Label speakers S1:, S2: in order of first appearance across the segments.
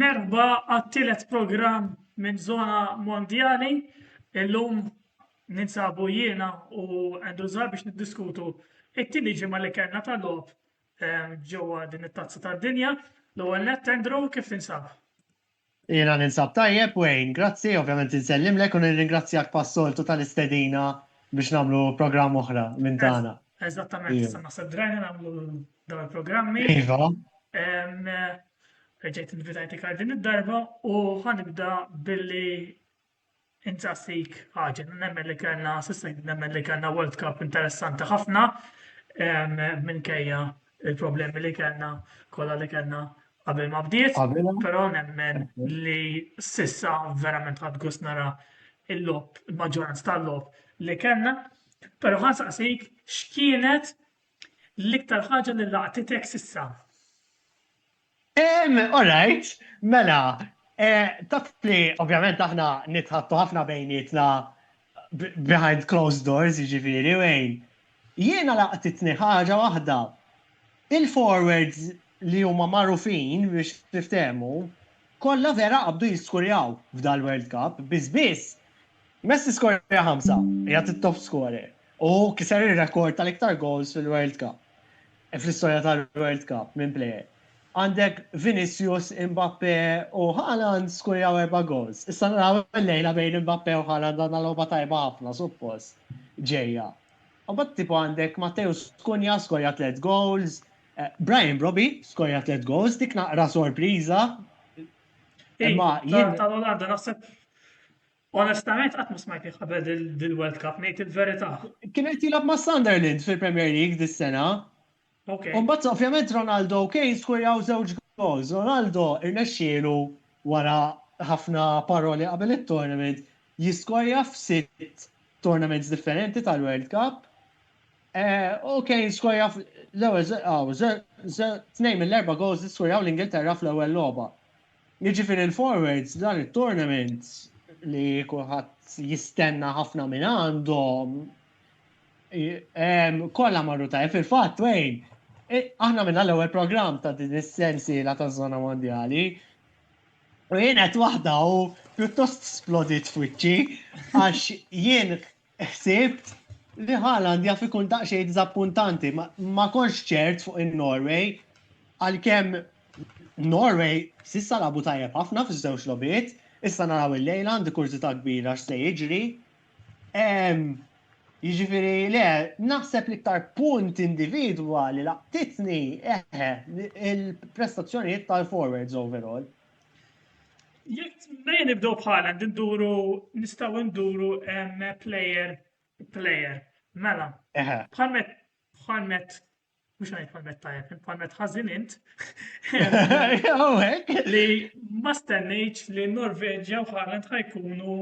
S1: Merba għat-tielet programm minn zona mondjali, illum ninsabu jiena u Andrew Zar biex niddiskutu it-tieni ġimgħa li kellna ta' logħob ehm, ġewwa din it-tazza tad-dinja. L-ewwel nett Andrew kif tinsab? Jiena
S2: ninsab tajjeb, Wayne. Grazzi, ovvjament insellimlek u nirringrazzjak pas-soltu tal-istedina biex nagħmlu programm oħra minn tagħna. Eżattament, issa
S1: naħseb drajna nagħmlu dawn il-programmi. Iva. Reġgħet invitajti għal din id-darba u ħanibda billi Insaqsik għaġel, nemmen li kellna, sissa nemmen li kellna World Cup interessanti ħafna minkejja il-problemi li kellna kollha li kellna qabel ma bdiet, però nemmen li sissa verament ħadd gost nara il-lob, il-maġġoranza tal-lob li kellna, però ħansaqsik x'kienet l-iktar ħaġa li laqtitek sissa?
S2: Alright, mela, taf li ovvjament aħna nitħattu ħafna bejnietna behind closed doors, jiġifieri, Wayne. Jiena laqtitni ħaġa waħda. Il-forwards li huma magħrufin biex niftehmu, kollha vera qabdu jiskurjaw f'dal-World Cup, biss biss Messi skorja ħamsa, qiegħed it-top scorer, u kiser ir-rekord tal-iktar goals fil-World Cup. fl-istorja tal-World Cup minn plejer. Għandek Vinicius, Mbappe u Haaland skurjaw erba' goals. Issa naraw illejla bejn Mbappe u Haaland għandna logħba tajba ħafna suppost ġejja. Imbagħad tipo għandek Matteus Cunha skorja tliet goals, Brian Brobbey skorja tliet goals, dik naqra sorpriża.
S1: Imma tal-Olanda naħseb Onestament qatt ma smajtni qabel dil-World Cup, ngħid il-verità. Kien qed jilgħab ma'
S2: Sunderland fil-Premier League dis-sena. Ok. U mbagħad ovvjament Ronaldo u Kane skurjaw żewġ goals. Ronaldo rnexxielu wara ħafna paroli qabel it-tournament jiskorja f'sitt tournaments differenti tal-World Cup. U Kane skorja fl-ewwel, aw, tnejn mill-erba' goals li skurjaw l-Ingilterra fl-ewwel logħba. Jiġifieri l-forwards f'dan it-tournament li kulħadd jistenna ħafna minn għandhom kollha marru tajjeb fil-fatt wejn aħna minna l-ewwel programm ta' din is-sensiela taż-żona mondjali U jien qed waħda u pjuttost splodit f'wiċċi għax jien Ħsibt li Haaland jaf ikun daqsxejn diżappuntanti, ma konx ċert fuq in-Norway għalkemm Norway sissa labu tajjeb ħafna fiż-żewġ lobiet, issa naraw il-lejla għandi kurzita kbira x'se jiġri. Jiġifieri le, naħseb li ktar punt individwa li laqtitni eħe il-prestazzjonijiet tal-forwards overall.
S1: Jek mejn nibdew bħala nduru nistgħu nduru player player. Mela. Bħalmet bħalmet mhux ngħid bħalmet tajjeb, bħalmet ħażin int. Li ma stennejtx li Norveġja u Haaland ħajkunu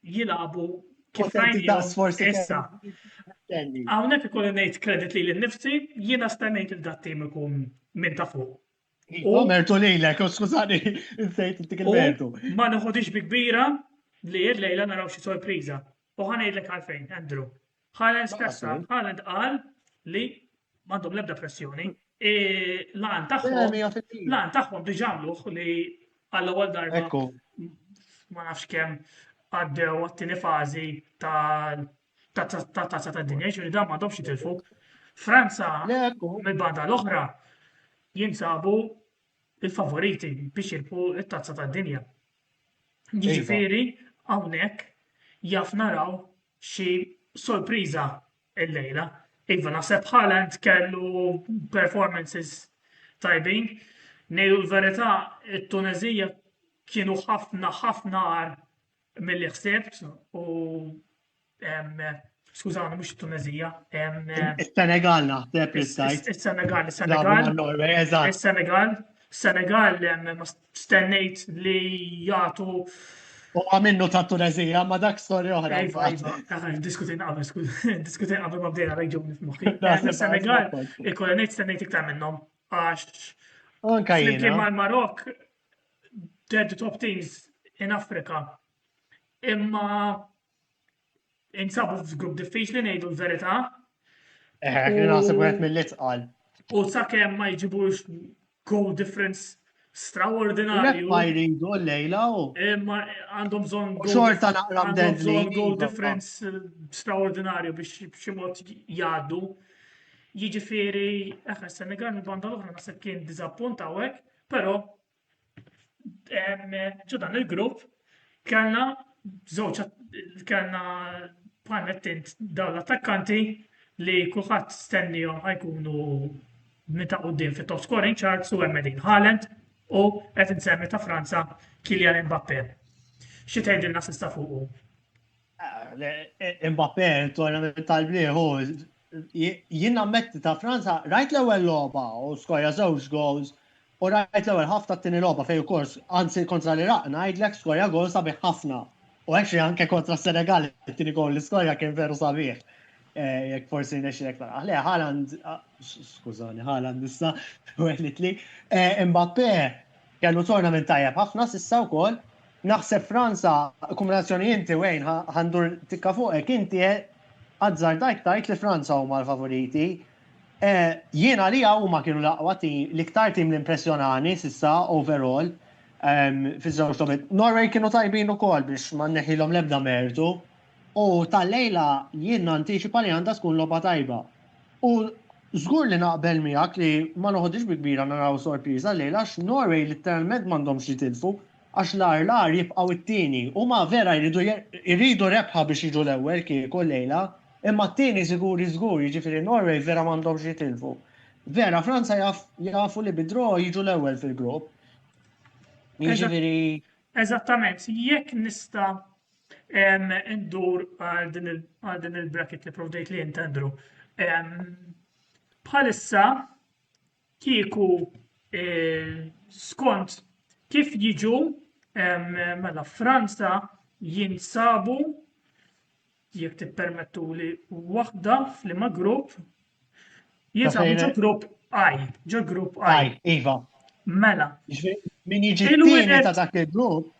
S1: jilabu Issa. Għawnek ikolli nejt kredit li l-nifsi, jina stennejt il-dat tim ikun minn ta' fuq. U mertu
S2: lejlek, u skużani, insejt intik il-mertu. Ma nħodix bi
S1: kbira li l-lejla naraw xi sorpriża. U ħanejdlek għalfejn, Andrew. Ħalen stessa, ħalen tqal li m'għandhom l-ebda pressjoni. E, lan tagħhom, lan tagħhom diġà għamluh li għallu għal darba ma nafx kemm għaddew għattini fazi tal ta' tazza ta' dinja, ġifieri dan m'għadhomx jitilfu. Franza mill-banda l-oħra jinsabu il-favoriti biex jirpu it-tazza ta' dinja. Iva. Ġifieri hawnhekk jaf naraw xi sorpriża l-lejla. Iva naħseb Haaland kellu performances tajbin. Nejlu l-verità, it-Tunezija kienu ħafna ħafna għar Milli ħsebt u skużawni mhux it-Tunezija. Is-Senegal
S2: naħseb li stajt. Is-Senegal, is-Senegal. Is-Senegal,
S1: Senegal ma stennejt li jagħtu U
S2: għamennu ta' Tunezija, ma dak storja oħra. Iva, iva, ah,
S1: diskutin qabel, diskutin qabel ma bdejna rajġu nifmuħi. Eh, Senegal, il-kolonit stennejt
S2: iktar
S1: minnom, għax. Anka jina.
S2: Flimkien mal-Marok,
S1: dead top teams in Africa. Imma insabu f'grupp diffiċli ngħidu l-verità. Eħe,
S2: eh, naħseb wieħed mill-itqal. U sakemm
S1: ma jġibux goal difference straordinarju.
S2: Ma
S1: jridu
S2: l-lejla u. Eh, ma għandhom
S1: bżonn goal. Xorta naqra
S2: bżonn goal
S1: difference eh, straordinarju biex b'xi mod jgħaddu. Jiġifieri, eħe, Senegal mill-banda l-oħra naħseb kien diżappunt hawnhekk Però ġo dan il-grupp kellna żewġ kellna bħal mettint dawn l-attakkanti li kulħadd stennihom ħajkunu minn ta' quddiem fit-top scoring charts u hemm din Haaland u qed insemmi ta' Franza Kylian Mbappe. Xi tgħidilna sista fuqu?
S2: Mbappe, il-tournament tal-bliħu, jien ammetti ta' Franza, rajt l-ewwel logħba u skorja żewġ goals u rajt l-ewwel ħafna t-tieni logħba fejn ukoll anzi kontra l-Iraq ngħidlek skorja goal sabiħ ħafna. U actually anke kontra s-Senegal it-tieni goal li skorja kien veru sabiħ. Eh, jekk forsi nexxilek taraħ. Le, Haaland, ah, skużani, Haaland issa, u għedlitli, eh, Mbappe, Kellu tournament tajjeb ħafna s'issa wkoll. Naħseb Franza, il-kombinazzjoni inti Wayne ħa ħa ndur tikka fuqek, inti azzardajt tgħid li Franza huma l-favoriti. Jien għalija huma kienu l-aqwa tim, l-iktar tim li impressjonani s'issa overall fiż-żewġ logħbiet. Norway kienu tajbin ukoll biex ma nneħħilhom l-ebda mertu, U tal-lejla jien nantiċipa li għandha tkun logħba tajba. U żgur li naqbel miegħek li ma noħodhiex bi kbira naraw sorpriża llejla għax Norway litteralment m'għandhomx jitilfu għax l-agħar l-agħar jibqgħu t-tieni. Huma vera jridu jridu rebħa biex jiġu l-ewwel kieku llejla imma t-tieni siguri żgur jiġifieri Norway vera m'għandhomx jitilfu. Vera Franza jaf jafu li bi draw jiġu l-ewwel fil-grupp. Jiġifieri
S1: Eżattament, jekk nista' Indur għal din il-bracket li provdejt li jintendru. Bħalissa kieku eh, skont kif jiġu mela Franza jinsabu jekk tippermettu li waħda fl-ima grupp Jisa, ġo grupp I, ġo grupp I.
S2: Iva. Mela.
S1: Min
S2: jiġi t-tieni ta' dak il-grupp.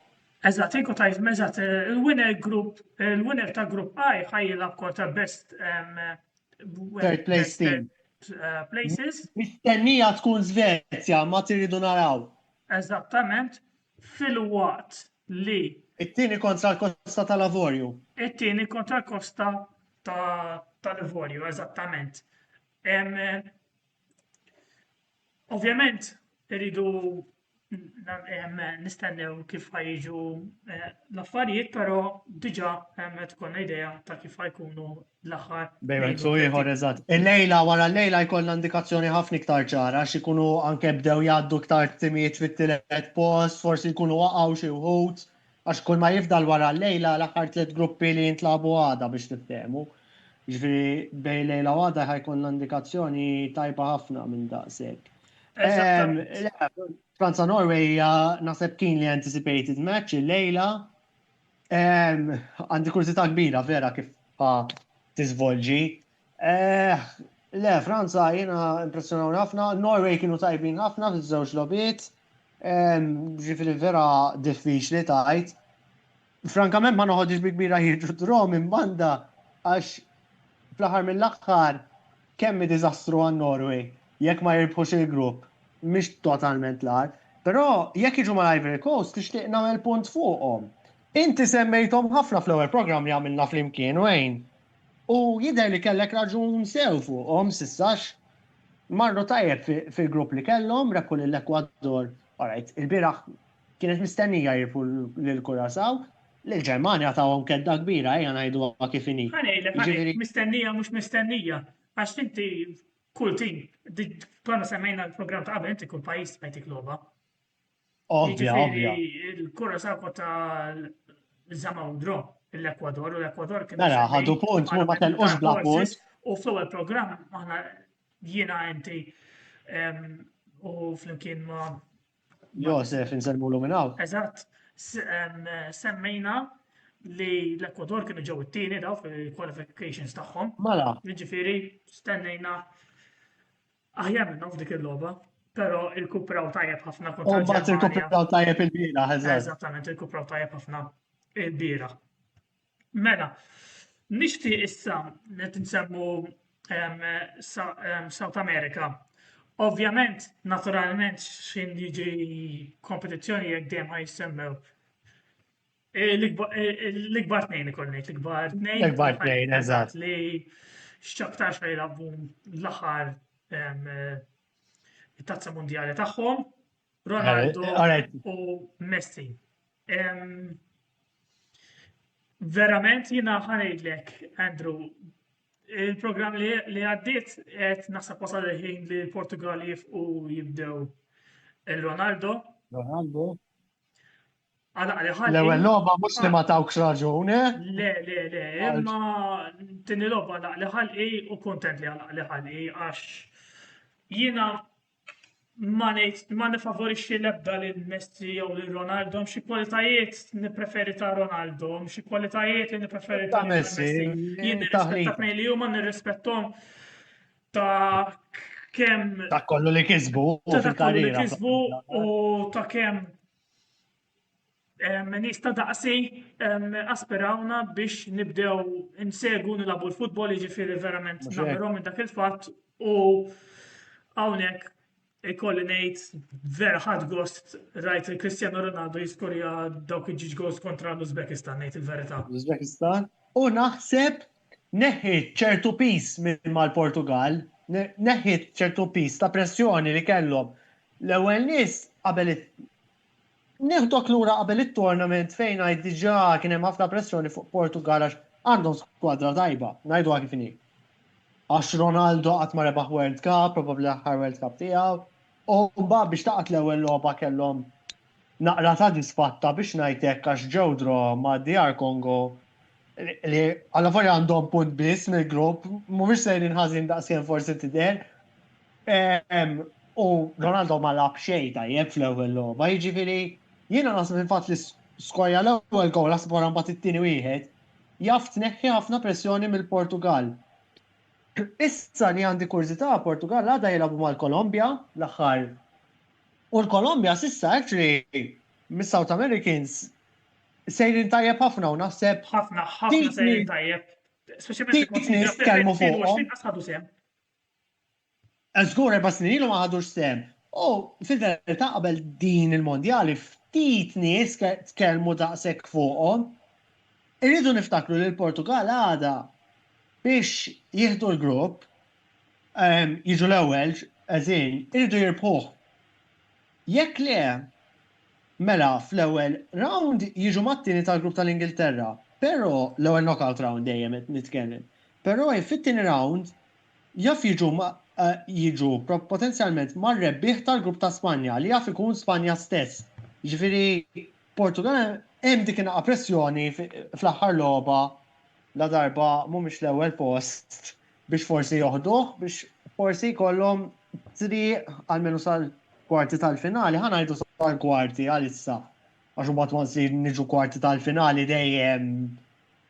S2: Eżat, iku
S1: tajt, eżat, il-winner grupp, il-winner ta' grupp I ħajjila kota best
S2: third place team. Uh, places.
S1: Mistennija
S2: tkun Svezja, ma tiridu naraw. Eżattament.
S1: filwaqt li. It-tieni kontra
S2: l-kosta tal-Avorju. It-tieni kontra
S1: l-kosta tal-Ivorju, eżattament. Ovvjament, irridu nistennew kif ħajġu eh, l-affarijiet, però diġà qed tkun idea ta' kif ħajkunu l-aħħar. Bejn wieħed u ieħor,
S2: eżatt. Illejla wara llejla jkollna indikazzjoni ħafna iktar ċara għax ikunu anke bdew jgħaddu iktar timijiet fit-tielet post, forsi jkunu waqgħu xi wħud għax kulma jifdal wara llejla l-aħħar tliet gruppi li jintlagħbu għada biex tiftehmu. Jiġifieri bejn llejla u għada ħa jkollna indikazzjoni tajba ħafna minn daqshekk. Franza Norway hija naħseb keenly anticipated match illejla. Għandi kurzita kbira vera kif tiżvolġi. Eh, le, Franza jiena impressjonaw ħafna, Norway kienu tajbin ħafna fiż-żewġ lobiet, ġifiri vera diffiċli tajt. Frankament ma noħodix bi kbira jirġu drom imbanda għax fl-aħħar mill-aħħar Kemm hi diżastru għan-Norway jekk ma jirbħux il-grupp, mhix totalment l-agħar. Però jekk jiġu mal-Ivory Coast nixtieq nagħmel punt fuqhom. Inti semmejthom ħafna fl-ewwel programm li għamilna flimkien, Wayne, u jidher li kellek raġun sew fuqhom s'issa għax marru tajjeb fil-grupp li kellhom, rebħu lill-Ekwador, alright, ilbieraħ kienet mistennija jirbħu lill-Curaçao, Lill-Ġermanja tawhom kedda kbira, ejja ngħiduha kif inhi. Ħa ngħidlek għaliex mistennija
S1: mhux mistennija, għax inti kull tim, konna semmejna l-programm ta' qabel inti kull pajjiż tbajtik logħba. Ovvja, ovvja. Il-kura sabu ta' żama u dro l-Ekwador u l-Ekwador kien. Mela, ħadu punt, ma
S2: ma
S1: telqux
S2: bla
S1: punt.
S2: U fl-ewwel programm
S1: aħna jiena inti u flimkien ma' Josef,
S2: insellmulu minn hawn. Eżatt,
S1: semmejna li l-Ekwador kienu ġew it-tieni daw fil-qualifications tagħhom. Mela. Jiġifieri stennejna aħjar minnhom f'dik il-logħba, però il-kupraw tajjeb ħafna kontra. Mbagħad il-kupraw tajjeb il-bira,
S2: eżatt. Eżattament, il-kupraw tajjeb
S1: ħafna il-bira. Mela, nixtieq issa li tinsemmu South America. Ovvjament, naturalment, xin jiġi kompetizzjoni jekk dejjem ħaj jissemmew. E, l-ikbar tnejn ikollni, l-ikbar tnejn. L-ikbar tnejn, eżatt.
S2: Li
S1: xċaktar xaj jilabbu l-aħħar tazza mondjali tagħhom. Ronaldo u Messi. Verament jina ħanajdlek, Andrew, il-program li għaddit qed naħseb wasal il-ħin li l-Portugal jifqu jibdew il-Ronaldo. Ronaldo. L-ewwel logħba mhux li ma
S2: tawkx raġun, eh? Le,
S1: le, le, imma tini logħba laqli ħalqi u kontent li laqli ħalqi għax jiena ma ngħid ma nifavorixxi l-ebda lil Messi jew lil Ronaldo, xi kwalitajiet nippreferi ta' Ronaldo, xi kwalitajiet li nippreferi ta' Messi. Jien nirrispetta tnejn li huma nirrispettom ta' kemm ta' kollu li
S2: kisbu ta' kollu li
S1: kisbu
S2: u
S1: ta' kemm Nies ta' daqsi aspirawna biex nibdew insegu nilabu l-futbol, jiġifieri verament nagħmilhom minn dak il-fatt u hawnhekk ikolli ngħid vera ħadd gost rajt il Cristiano Ronaldo jiskorja dawk il-ġiġ goals kontra l-Uzbekistan ngħid il-verità. L-Uzbekistan
S2: u naħseb neħħiet ċertu piż minn mal-Portugall, neħħiet ċertu piż ta' pressjoni li kellhom. L-ewwel nies qabel Nieħdok lura qabel it-tournament fejn ngħid diġà kien hemm ħafna pressjoni fuq Portugall għax għandhom skwadra tajba, ngħiduha kif inhi. Għax Ronaldo qatt ma rebaħ World Cup, probabbli l-aħħar World Cup tiegħu, u mbagħad biex taqgħad l-ewwel logħba kellhom naqra ta' disfatta biex ngħid hekk għax ġew draw ma' DR Congo li allavolja għandhom punt biss mill-grupp, mhumiex sejrin ħażin daqskemm forsi tidher. U Ronaldo ma lab xejn tajjeb fl-ewwel logħba, jiġifieri jiena naħseb il-fatt li skorja l-ewwel gowl naħseb wara mbagħad it-tieni wieħed jaf tneħħi ħafna pressjoni mill-Portugall. Issa li għandi kurżità, Portugall għada jilagħbu mal-Kolombja l-aħħar u l-Kolombja s'issa actually mis-South Americans sejrin tajjeb ħafna u naħseb ħafna ħafna
S1: sejrin tajjeb. Speċjalment il-Kolombja.
S2: Nitkellmu fuq. Żgur erba' snin ilu ma ħadux sehem. U fil-verità qabel din il-mondjali ftit nies tkellmu daqshekk fuqhom. Irridu niftakru li l-Portugall għadha biex jieħdu l-grupp, jiġu l-ewwel, as in, iridu jirbħuh. Jekk le, mela fl-ewwel rawnd jiġu mat-tieni tal-grupp tal-Ingilterra, però, l-ewwel knockout rawnd dejjem qed nitkellem, però fit-tieni rawnd jaf jiġu jiġu potenzjalment mar-rebbieħ tal-grupp ta' Spanja li jaf ikun Spanja stess. Jiġifieri Portugall hemm dik in-naqa' pressjoni fl-aħħar logħba ladarba mhumiex l-ewwel post. biex forsi joħduh biex forsi jkollhom triq għalmenu sal-kwarti tal-finali, ħa ngħidu sal-kwarti għalissa. Għax mbagħad once li niġu kwarti tal-finali dejjem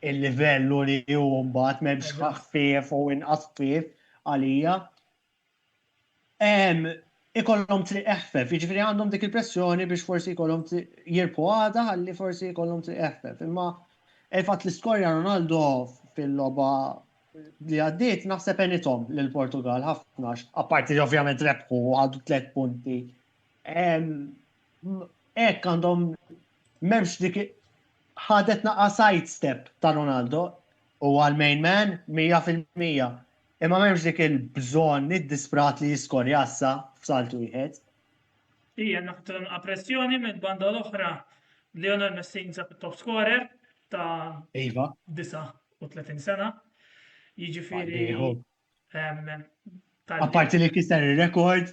S2: il-livell u li hu mbagħad m'hemmx ħaffif u inqas ħfief għalija. ikollhom triq eħfef, jiġifieri għandhom dik il-pressjoni biex forsi jkollhom jirbħu għada ħalli forsi jkollhom triq eħfef. Imma il-fatt li skorja Ronaldo fil-logħba li għaddiet naħseb għenithom lil Portugal ħafna, apparti li ovvjament rebħu u ħadu tliet punti. Hekk għandhom m'hemmx dik ħadet naqa' side step ta' Ronaldo huwa l-main man 100%. Imma m'hemmx dik il-bżonn iddisprat li jiskor jassa f'salt wieħed. Hija
S1: naqtgħa pressjoni mill-banda l-oħra Lionel Messi jinsab it-top scorer ta' 39 sena. Jiġifieri
S2: Apparti li kiser ir-rekord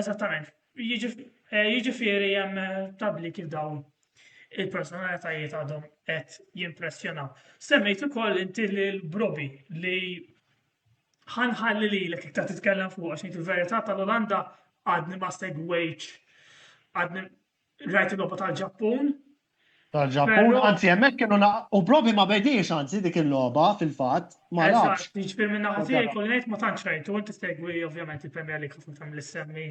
S2: Eżattament.
S1: Jiġifieri hemm tabli kif dawn il-personalitajiet għadhom qed jimpressjonaw. Semmejt ukoll inti lil Brobi li ħanħalli lilek iktar titkellem fuq għax ngħid il-verità tal-Olanda għadni ma segwejtx għadni Rajt il-logħba tal-Ġappun. Tal-Ġappun,
S2: anzi hemmhekk kienu
S1: u
S2: provi ma bediex anzi dik il-logħba fil-fatt, ma nafx. Jiġifier minn naħa tiegħi
S1: kolli ngħid ma tantx rajtu, inti segwi ovvjament il-Premier League ħafna tagħmel issemmi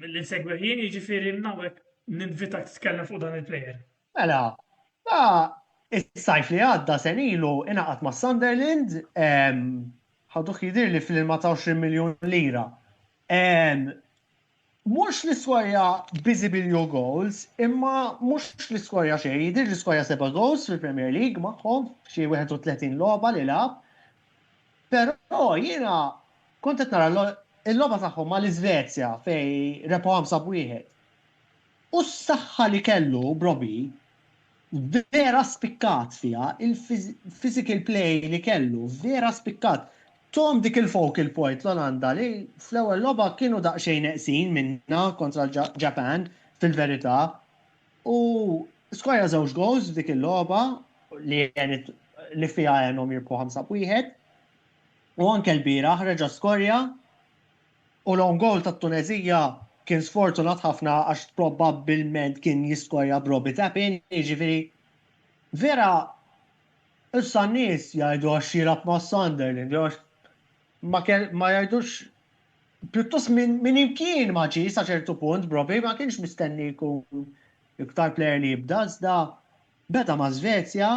S1: li nsegwi ħin, jiġifieri nawek ninvitak titkellem fuq dan il-plejer. Mela,
S2: ta' is-sajf li għadda senilu inaqat ma' Sunderland, ħaduh jidir li fl-24 miljon lira Mhux l-iskorja biżibbli jew goals, imma mhux l-iskorja xejn, jidhirli skorja seba' goals fil-Premier League magħhom f'xi 31 logħba li lagħab. Però jiena kont qed nara l-logħba tagħhom mal-Iżvezja fejn rebħu 5 b' 1. U s-saħħa li kellu Brobbie, Vera spikkat fiha il-physical play li kellu, vera spikkat. Tom dik il-focal point l-Olanda li fl-ewwel logħba kienu daqsxejn neqsin minnha kontra l-Ġapan fil-verità u skorja żewġ goals f'dik il-logħba li għenet li fiha għenhom jirbħu ħamsa b'wieħed u anke lbieraħ reġa' skorja U l-own goal tat-Tuneżija kien sfortunat ħafna għax probabbilment kien jiskorja b'Robbie Tappin, jiġifieri vera issa n-nies jgħidu għax jilgħab ma' Sunderland jew għax ma jgħidux pjuttost minn imkien ma ġie sa ċertu punt b'Robbie, ma kienx mistenni jkun l-iktar plejer li jibda iżda beda ma' Svezja,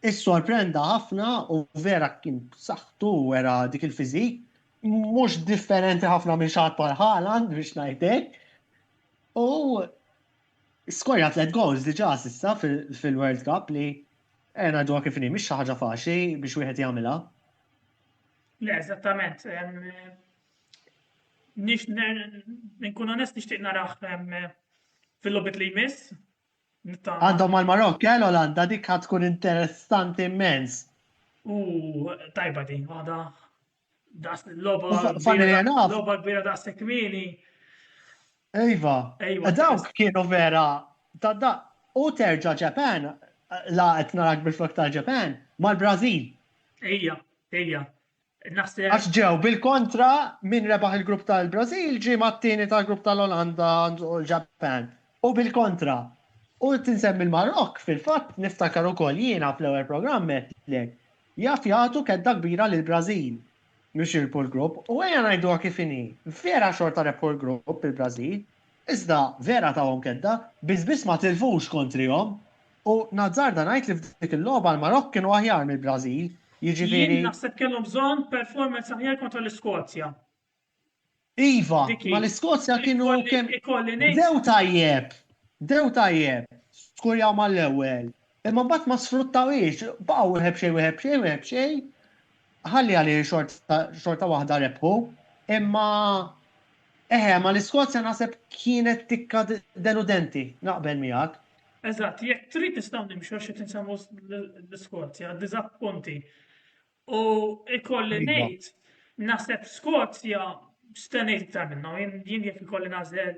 S2: issorprenda ħafna u vera kien b'saħħtu u wera dik il-physique. mhux differenti ħafna minn xaħat bħal Haaland biex ngħidlek. U skorja tliet goals diġà s'issa fil-World Cup li għena dwa kif mhix xi ħaġa faċli biex wieħed jagħmilha.
S1: Le, eżattament. Nix nkun onest nixtieq naraħ fil-lobit li jmiss. Għandhom
S2: mal marok kello eh, l-għanda dik tkun interessanti immens. U
S1: tajba din, għada Das loba
S2: kbira da' sekwini.
S1: Ejva,
S2: ejva. Dawk kienu vera ta' da' u terġa' Ġapan, la qed narak bil-flok tal-Ġapan, mal-Brażil.
S1: Ejja,
S2: ejja. Għax ġew bil-kontra minn rebaħ il-grupp tal-Brażil ġie mat-tieni tal-grupp tal-Olanda u l-Ġapan. U bil-kontra. U tinsemmi l-Marokk fil-fatt niftakar ukoll jiena fl-ewwel programm għedtlek Jaf jagħtu kedda kbira lill-Brażil biex jirbħu l-grupp u ejja ngħiduha kif inhi, vera xorta rebħu l-grupp il-Brażil, iżda vera tawhom kedda, biss biss ma tilfux kontrihom u nazzarda ngħid li f'dik il-logħba l-Marokk kienu aħjar mill-Brażil, jiġifieri. Jien naħseb kellhom bżonn
S1: performance aħjar kontra l-Iskozja.
S2: Iva, ma l-Iskozja kienu kemm. Dew tajjeb, dew tajjeb, skurjaw mal-ewwel. Imma mbagħad ma sfruttawiex, baqgħu wieħed xejn wieħed xejn wieħed xejn. Ħalli għalli xorta waħda rebħu. Imma eħe, ma l-Iskozja naħseb kienet tikka deludenti, naqbel miegħek. Eżatt, jekk
S1: trid nistgħu nimxu xi tinsemmu l-Iskozja, diżappunti. U ikolli iva. ngħid, naħseb Skozja stennejt iktar minnhom, jien jekk ikolli nażel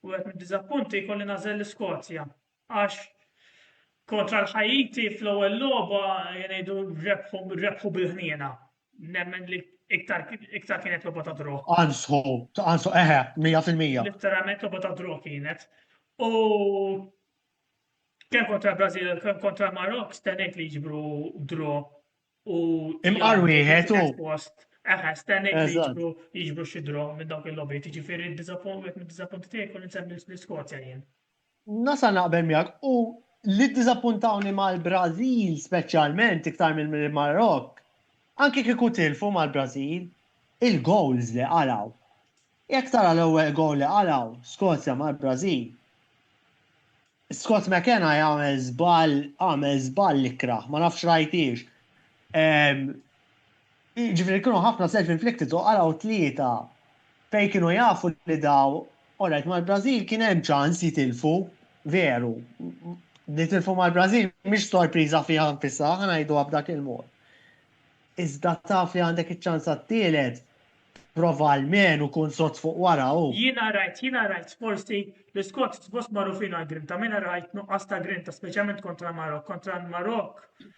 S1: u qed niddiżappunti jkolli nażel l-Iskozja. Għax kontra l-Ħajiti fl-ewwel logħba jgħidu rebħu bil-ħniena. Nemmen li iktar kienet logħba ta' drok. Ansu, ansu,
S2: eħe, 100%. Literalment logħba
S1: ta' drok kienet. U Kemm kontra l-Brażil, kemm kontra l-Marok, stennejt li jiġbru dro u. Imqar
S2: wieħed u. Eħe, stennejt li
S1: jiġbru jiġbru xi dro minn dawk il-lobby, tiġifieri d-diżappunt mid-diżappunt tiegħi kun insemmi l-Iskozja jien. Nasa naqbel
S2: miegħek u li ddiżappuntawni mal-Brażil speċjalment iktar mill-Marok, anke kieku tilfu mal-Brażil, il-goals li qalgħu. Jekk tara l-ewwel goal li qalgħu Skozja mal-Brażil, Scott McKenna jagħmel żball, għamel żball ikrah, ma nafx rajtiex. Jiġifieri kienu ħafna self-inflicted u qalgħu tlieta fejn kienu jafu li daw, alright mal-Brażil kien hemm ċans jitilfu, veru, nitilfu mal-Brażil mhix sorpriża fiha nfisha, ħa ngħiduha b'dak il-mod. Iżda taf li għandek iċ-ċans għat-tielet, Prova almenu kun sod fuq wara u. Jiena rajt, jiena rajt,
S1: forsi, l-Iskots suppost magħrufin għall-grinta, ma jiena rajt nuqqas ta' grinta, speċjalment kontra l-Marokk. Kontra l-Marokk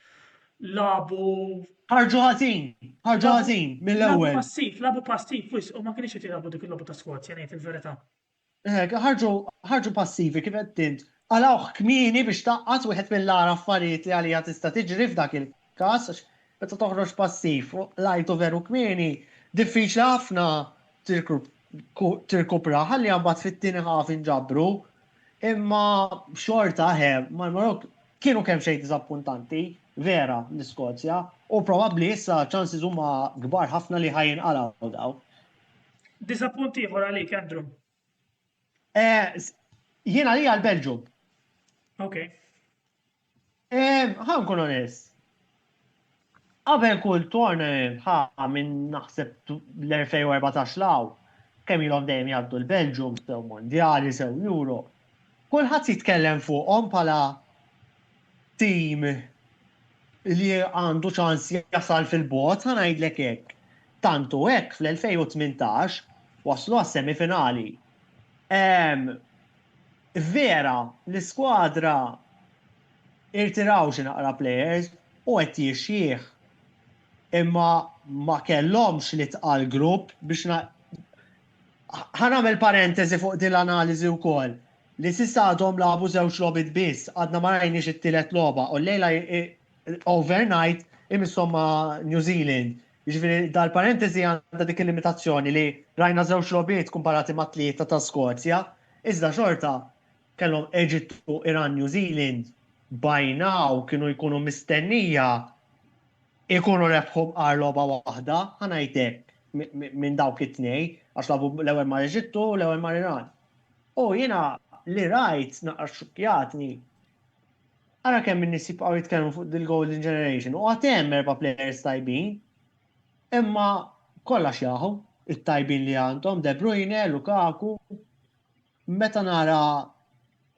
S1: labu. Ħarġu
S2: ħażin, ħarġu ħażin mill-ewwel. Labu passiv, labu passiv
S1: wisq u ma kienx qed jilagħbu dik il-logħba ta' Skozja ngħid il-verità.
S2: Ħarġu passivi kif għedt int. Qalgħuh kmieni biex tgħaqqad wieħed mill-agħar affarijiet li għaliha tista' tiġri f'dak il-każ għax meta toħroġ passiv u qlajtu veru kmieni, diffiċli ħafna tirkupraha, ħalliha mbagħad fit-tieni half inġabru. Imma xorta eħe, mal-Marokk kienu kemxejn diżappuntanti, vera, l-Iskozja u probabbli issa ċ-ċansis huma kbar ħafna li ħa jinqalgħu dawn.
S1: Disappunt ieħor għalik, Andrew. Eh,
S2: Jiena li għal Belġum. Ok.
S1: Eh,
S2: ħan kun onest. Qabel kull torna ħa minn naħseb l-2014 law, kemm ilhom dejjem jgħaddu l-Belġum, sew mondjali, sew Euro. Kulħadd jitkellem fuqhom bħala tim li għandu ċans jasal fil-bogħod, ħa ngħidlek hekk, tant hu hekk fl-2018 waslu għas-semifinali. Vera, l-iskwadra irtiraw xi naqra plejers u qed jixjih, imma ma kellhomx l-itqal grupp biex Ħa nagħmel parentesi fuq din l-analiżi wkoll, li s'issa għadhom lagħbu żewġ logħbiet biss, għadna ma rajniex it-tielet logħba, u llejla overnight imisshom ma' New Zealand. Jiġifieri dal-parentesi għandha dik il-limitazzjoni li rajna żewġ logħbiet kumparati ma' tlieta ta' Skozja, iżda xorta kellhom Eġittu, Iran, New Zealand, by now kienu jkunu mistennija jkunu rebħu b'qar logħba waħda, ħa ngħid hekk. minn dawk it-tnej, għax labu l-ewwel mar Eġittu, l-ewwel mar Iran. U jiena li rajt naqra xukjatni. Ara kemm min nies jibqgħu jitkellmu fuq dil-Golden Generation u għad hemm erba' players tajbin. Imma kollha xjaħu it-tajbin li għandhom De Bruyne, Lukaku. Meta nara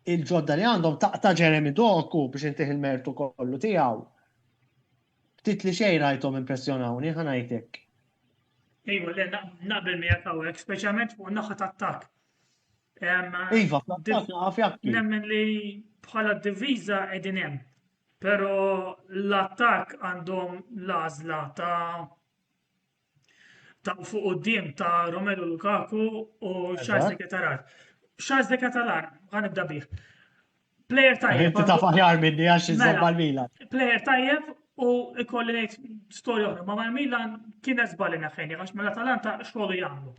S2: il-ġodda li għandhom taqta' Jeremy Doku biex intih il-mertu kollu tiegħu. Ftit li xejn rajthom impressjonawni, ħa ngħid hekk.
S1: Iva, le, naqbel miegħek hawnhekk, speċjalment fuq naħa tat-tak.
S2: Iva, fl-attak Nemmen li
S1: bħala diviża qegħdin hemm. Però l-attak għandhom l-għażla ta' ta' fuq qudiem ta' Romelu Lukaku u Charles de Ketalar. Charles de Ketalar, għan ibda bih. Player tajjeb. Inti ta' faħjar minni
S2: għax iżżomm mela, mal-Milan. Player tajjeb
S1: u ikolli ngħid storja oħra, ma' mal-Milan kien eżbali naħħejni għax mela talanta xogħlu jagħmlu.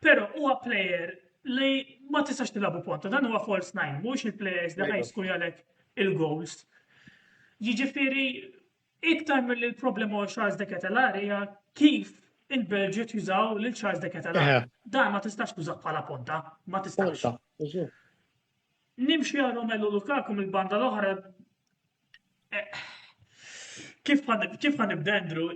S1: Però huwa player li ma tistax tilabu ponta, dan huwa false nine, mhux il-players li ħajsku jalek il-goals. Jiġifieri Iktar milli l-problema għal Charles de Ketelar hija kif il-Belġu jużaw lil Charles de Ketelar. Eh. Dan ma tistax tużaħ bħala ponta, ma tistax. Nimxi għal Romelu Lukaku mill-banda l-oħra. Eh, kif għan ibdendru,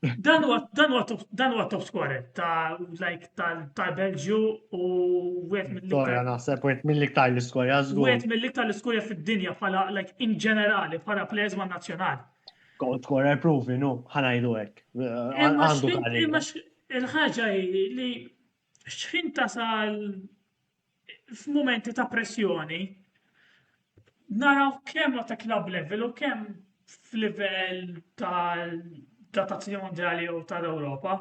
S1: Dan huwa dan huwa top dan huwa top scorer ta' like tal-Belġju u wieħed mill-iktar. naħseb
S2: wieħed mill-iktar l-iskorja żgur. Wieħed mill-iktar l-iskorja
S1: fid-dinja bħala like in ġenerali bħala players ma' nazzjonali. Goal scorer
S2: provi, nu, ħanajdu hekk. Għandu Imma
S1: il-ħaġa li xħin tasal f'mumenti ta' pressjoni naraw kemm ta' club level u kemm f'livell ta' tazzjoni mondjali jew tal-Ewropa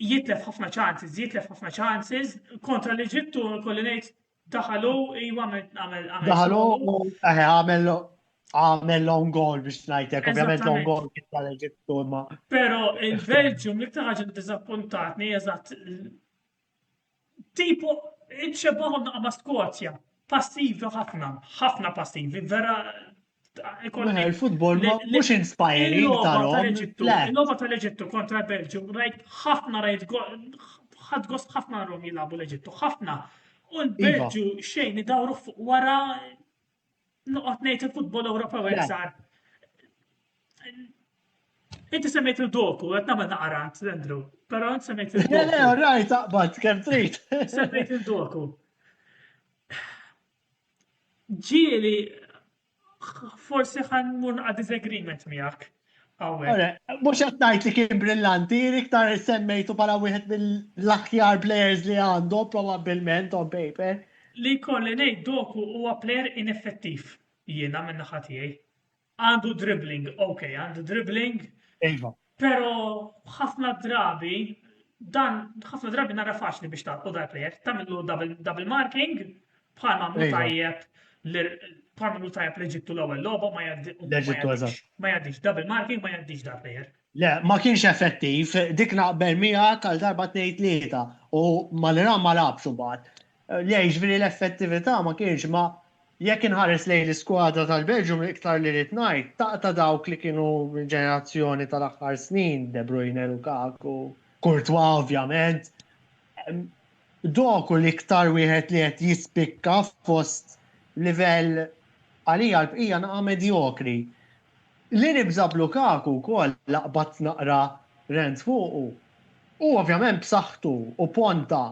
S1: jitlef ħafna chances, jitlef ħafna chances kontra l-Eġittu kolli ngħid daħalu iwa għamel għamel. Daħalu eh, għamel
S2: għamel long goal biex ngħidlek, ovvjament long goal kien tal-Eġittu imma. Però
S1: il-Belġium li ħaġa ddiżappuntatni eżatt Tipo, ċebahom naqa ma' Skozja. Passivi ħafna, ħafna passivi, vera.
S2: Il-futbol mhux inspiring tal-logħba Il-logħba
S1: tal-Eġittu kontra l-Belġju, rajt ħafna rajt ħadd gost ħafna rom jilagħbu l-Eġittu, ħafna. U l-Belġju iva. xejn idawru fuq wara Noqgħod ngħid il-futbol Ewropew hekk sar. Inti semmejt il-doku, qed nagħmel naqarat, Andrew, però inti semmejt il-doku. Le, le, raj
S2: taqbad
S1: kemm
S2: trid. Semmejt il-doku.
S1: Ġieli forsi ħan mur naqa' disagreement miegħek. Mux
S2: għattajt li kien brillanti, iktar semmejtu pala wieħed mill-aħjar players li għandu, probabilment on paper. Li kolli
S1: nejt doku huwa player ineffettiv jiena minna ħatijaj. Għandu dribbling, ok, għandu dribbling. Ejva.
S2: Pero
S1: ħafna drabi, dan ħafna drabi nara faċli biex tarqu dal-player, tamillu double marking, Bħal mamlu Iva. tajjeb bħal mamlu tajjeb l-Eġittu l-ewwel logħba ma jgħaddix.
S2: Ma jgħaddix double marking
S1: ma jgħaddix dar player. Le, ma kienx
S2: effettiv, dik naqbel mija tal darba tnejn tlieta u mal-Iran ma labx imbagħad. Le, jiġifieri l-effettività ma kienx ma jekk inħares lejn l-iskwadra tal-Belġum iktar li rrid ngħid, taqta' dawk li kienu ġenerazzjoni tal-aħħar snin, De Bruyne, Lukaku, Courtois ovvjament, Doku l-iktar wieħed li qed jispikka fost livell, għalija l-bqija naqa' medjokri. Li nibża' b'Lukaku wkoll la qbadt naqra rens fuqu. Hu ovvjament b'saħħtu u ponta.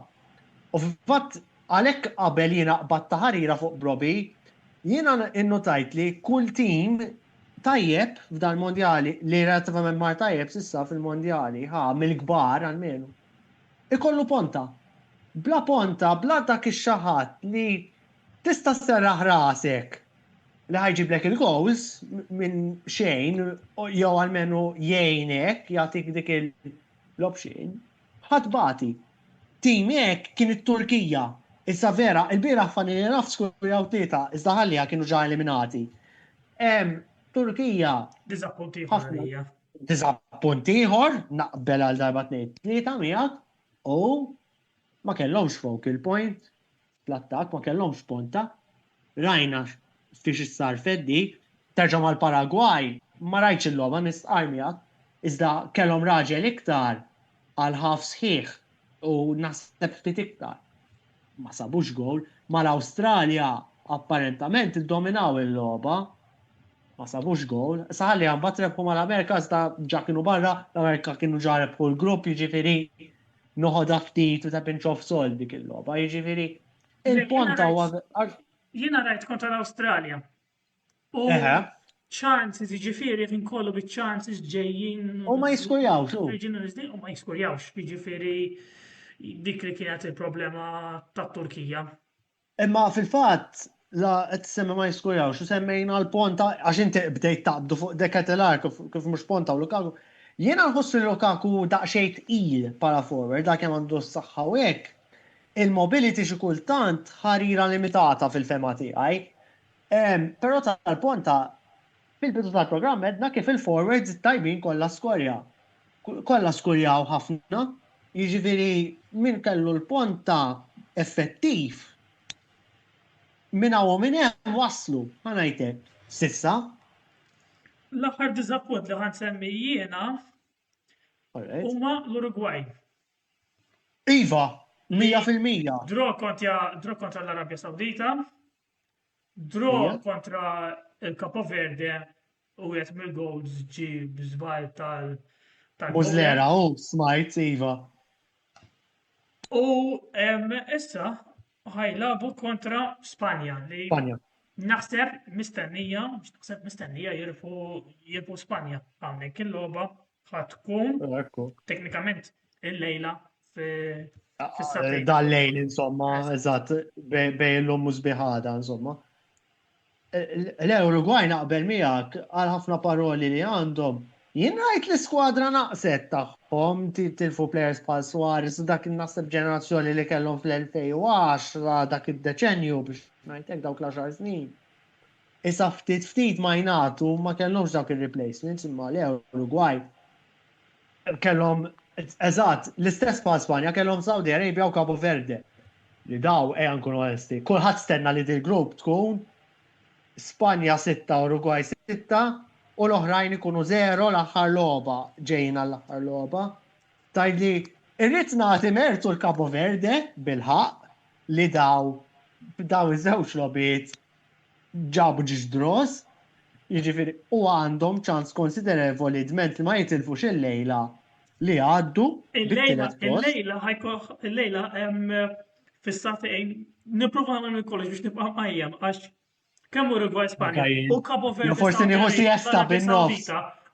S2: U fil-fatt għalhekk qabel jiena qbadt ta' ħarira fuq Brobbey. Jiena innutajt li kull tim tajjeb f'dan il-mondjali, li relattivament mar tajjeb s'issa fil-mondjali, ħa mill-kbar almenu. ikollu ponta. Bla ponta, bla dak ix-xi ħadd li tista' sserraħ rasek li ħa jġiblek il-gowls minn xejn jew almenu jgħinek, jagħtik dik il-option, ħa tbati. Tim hekk kien it-Turkija. Issa vera, ilbieraħ Faninenaf skurjaw tlieta, iżda ħalliha kienu ġa eliminati. Turkija. Diżappuntiet għalija.
S1: Diżappunt
S2: ieħor, naqbel għal darba tnejn tlieta miegħek, u ma kellhomx focal point fl-attakk, ma kellhomx ponta. Rajna fiex issarfet dik, terġa' mal-Paragwaj, ma rajtx il-logħba nistqarr miegħek, iżda kellhom raġel iktar għal ħaf sħiħ u naħseb ftit iktar ma sabux gol, ma l-Awstralja apparentament iddominaw il-logħba ma sabux gol, saħalli għan batrebħu ma l-Amerika sta ġa kienu barra, l-Amerika kienu ġa rebħu l-grupp, jiġifieri noħodha ftit u ta' pinch of salt dik il-logħba, jiġifieri il-ponta huwa
S1: Jiena rajt kontra l-Awstralja. U Eħe. chances jiġifieri qed inkollu bi chances ġejjin. U ma jiskurjawx,
S2: u. Ġejjin Wisdin u ma
S1: jiskurjawx, jiġifieri dik li kienet il-problema tat-Turkija. Imma
S2: fil-fatt la qed semmi ma jiskurjawx u semmejna l-ponta għax inti bdejt taqbdu fuq De Ketelaar kif kif mhux ponta u Lukaku. Jiena nħoss li Lukaku daqsxejn tqil bħala forward għalkemm għandu s-saħħa u hekk. Il-mobility xi kultant ħarira limitata fil-fehma tiegħi. Però tal-Ponta, fil-bidu tal-programm għedna kif il-forwards it-tajbin kollha skorja. Kollha skurjaw ħafna. Jiġifieri min kellu l-Ponta effettiv, minn hawn u minn hemm waslu, ħa ngħid hekk, s'issa.
S1: L-aħħar diżappunt li ħa nsemmi jiena huma l-Urugwaj.
S2: Iva, mija fil-mija. Draw
S1: kontra l-Arabja Sawdita. Draw Ija? kontra il-Capo Verde u għet mill-goals ġi bizbal tal tal Muslera,
S2: u smajt, Iva.
S1: U em, issa ħajlabu kontra Spanja li Spanja. naħseb mistennija, mhux naħseb mistennija jirfu jirfu Spanja hawnhekk il-logħba Ħadd tkun teknikament il-lejla ah, fis-satellite. Dal-lejl
S2: insomma, eżatt, bejn l-lum u sbiħada insomma. L-Uruguay naqbel miegħek għal ħafna paroli li għandhom. Jien rajt li skwadra naqset tagħhom tilfu players bħal Suarez dak naħseb ġenerazzjoni li kellhom fl-2010 dak id-deċenju biex ngħidlek dawk l-10 snin. Issa ftit ftit ma jingħatu ma kellhomx dawk ir-replacements imma le Urugwaj kellhom eżatt l-istess bħal Spanja kellhom Saudi Arabia u Cabo Verde li daw ejja nkunu onesti kulħadd stenna li dil-grupp tkun Spanja sitta Urugwaj sitta u l-oħrajn ikunu żero l-aħħar logħba ġejjin għall-aħħar logħba. Tgħidli irrid nagħti mertu l-Cabo Verde bil-ħaqq li daw b'dawn iż-żewġ logħbiet ġabu ġiex draws, jiġifieri u għandhom ċans konsiderevoli dment li ma jitilfux il-lejla li jgħaddu bit-tielet post.
S1: Il-lejla
S2: ħajkoh, il-lejla
S1: hemm fis-satejn nipprova nagħmel minn kollox biex nibqa' mqajjem għax kemm Uruguay Spanja u Cabo Verde.
S2: Forsi
S1: nieħu siesta
S2: bin-nofs.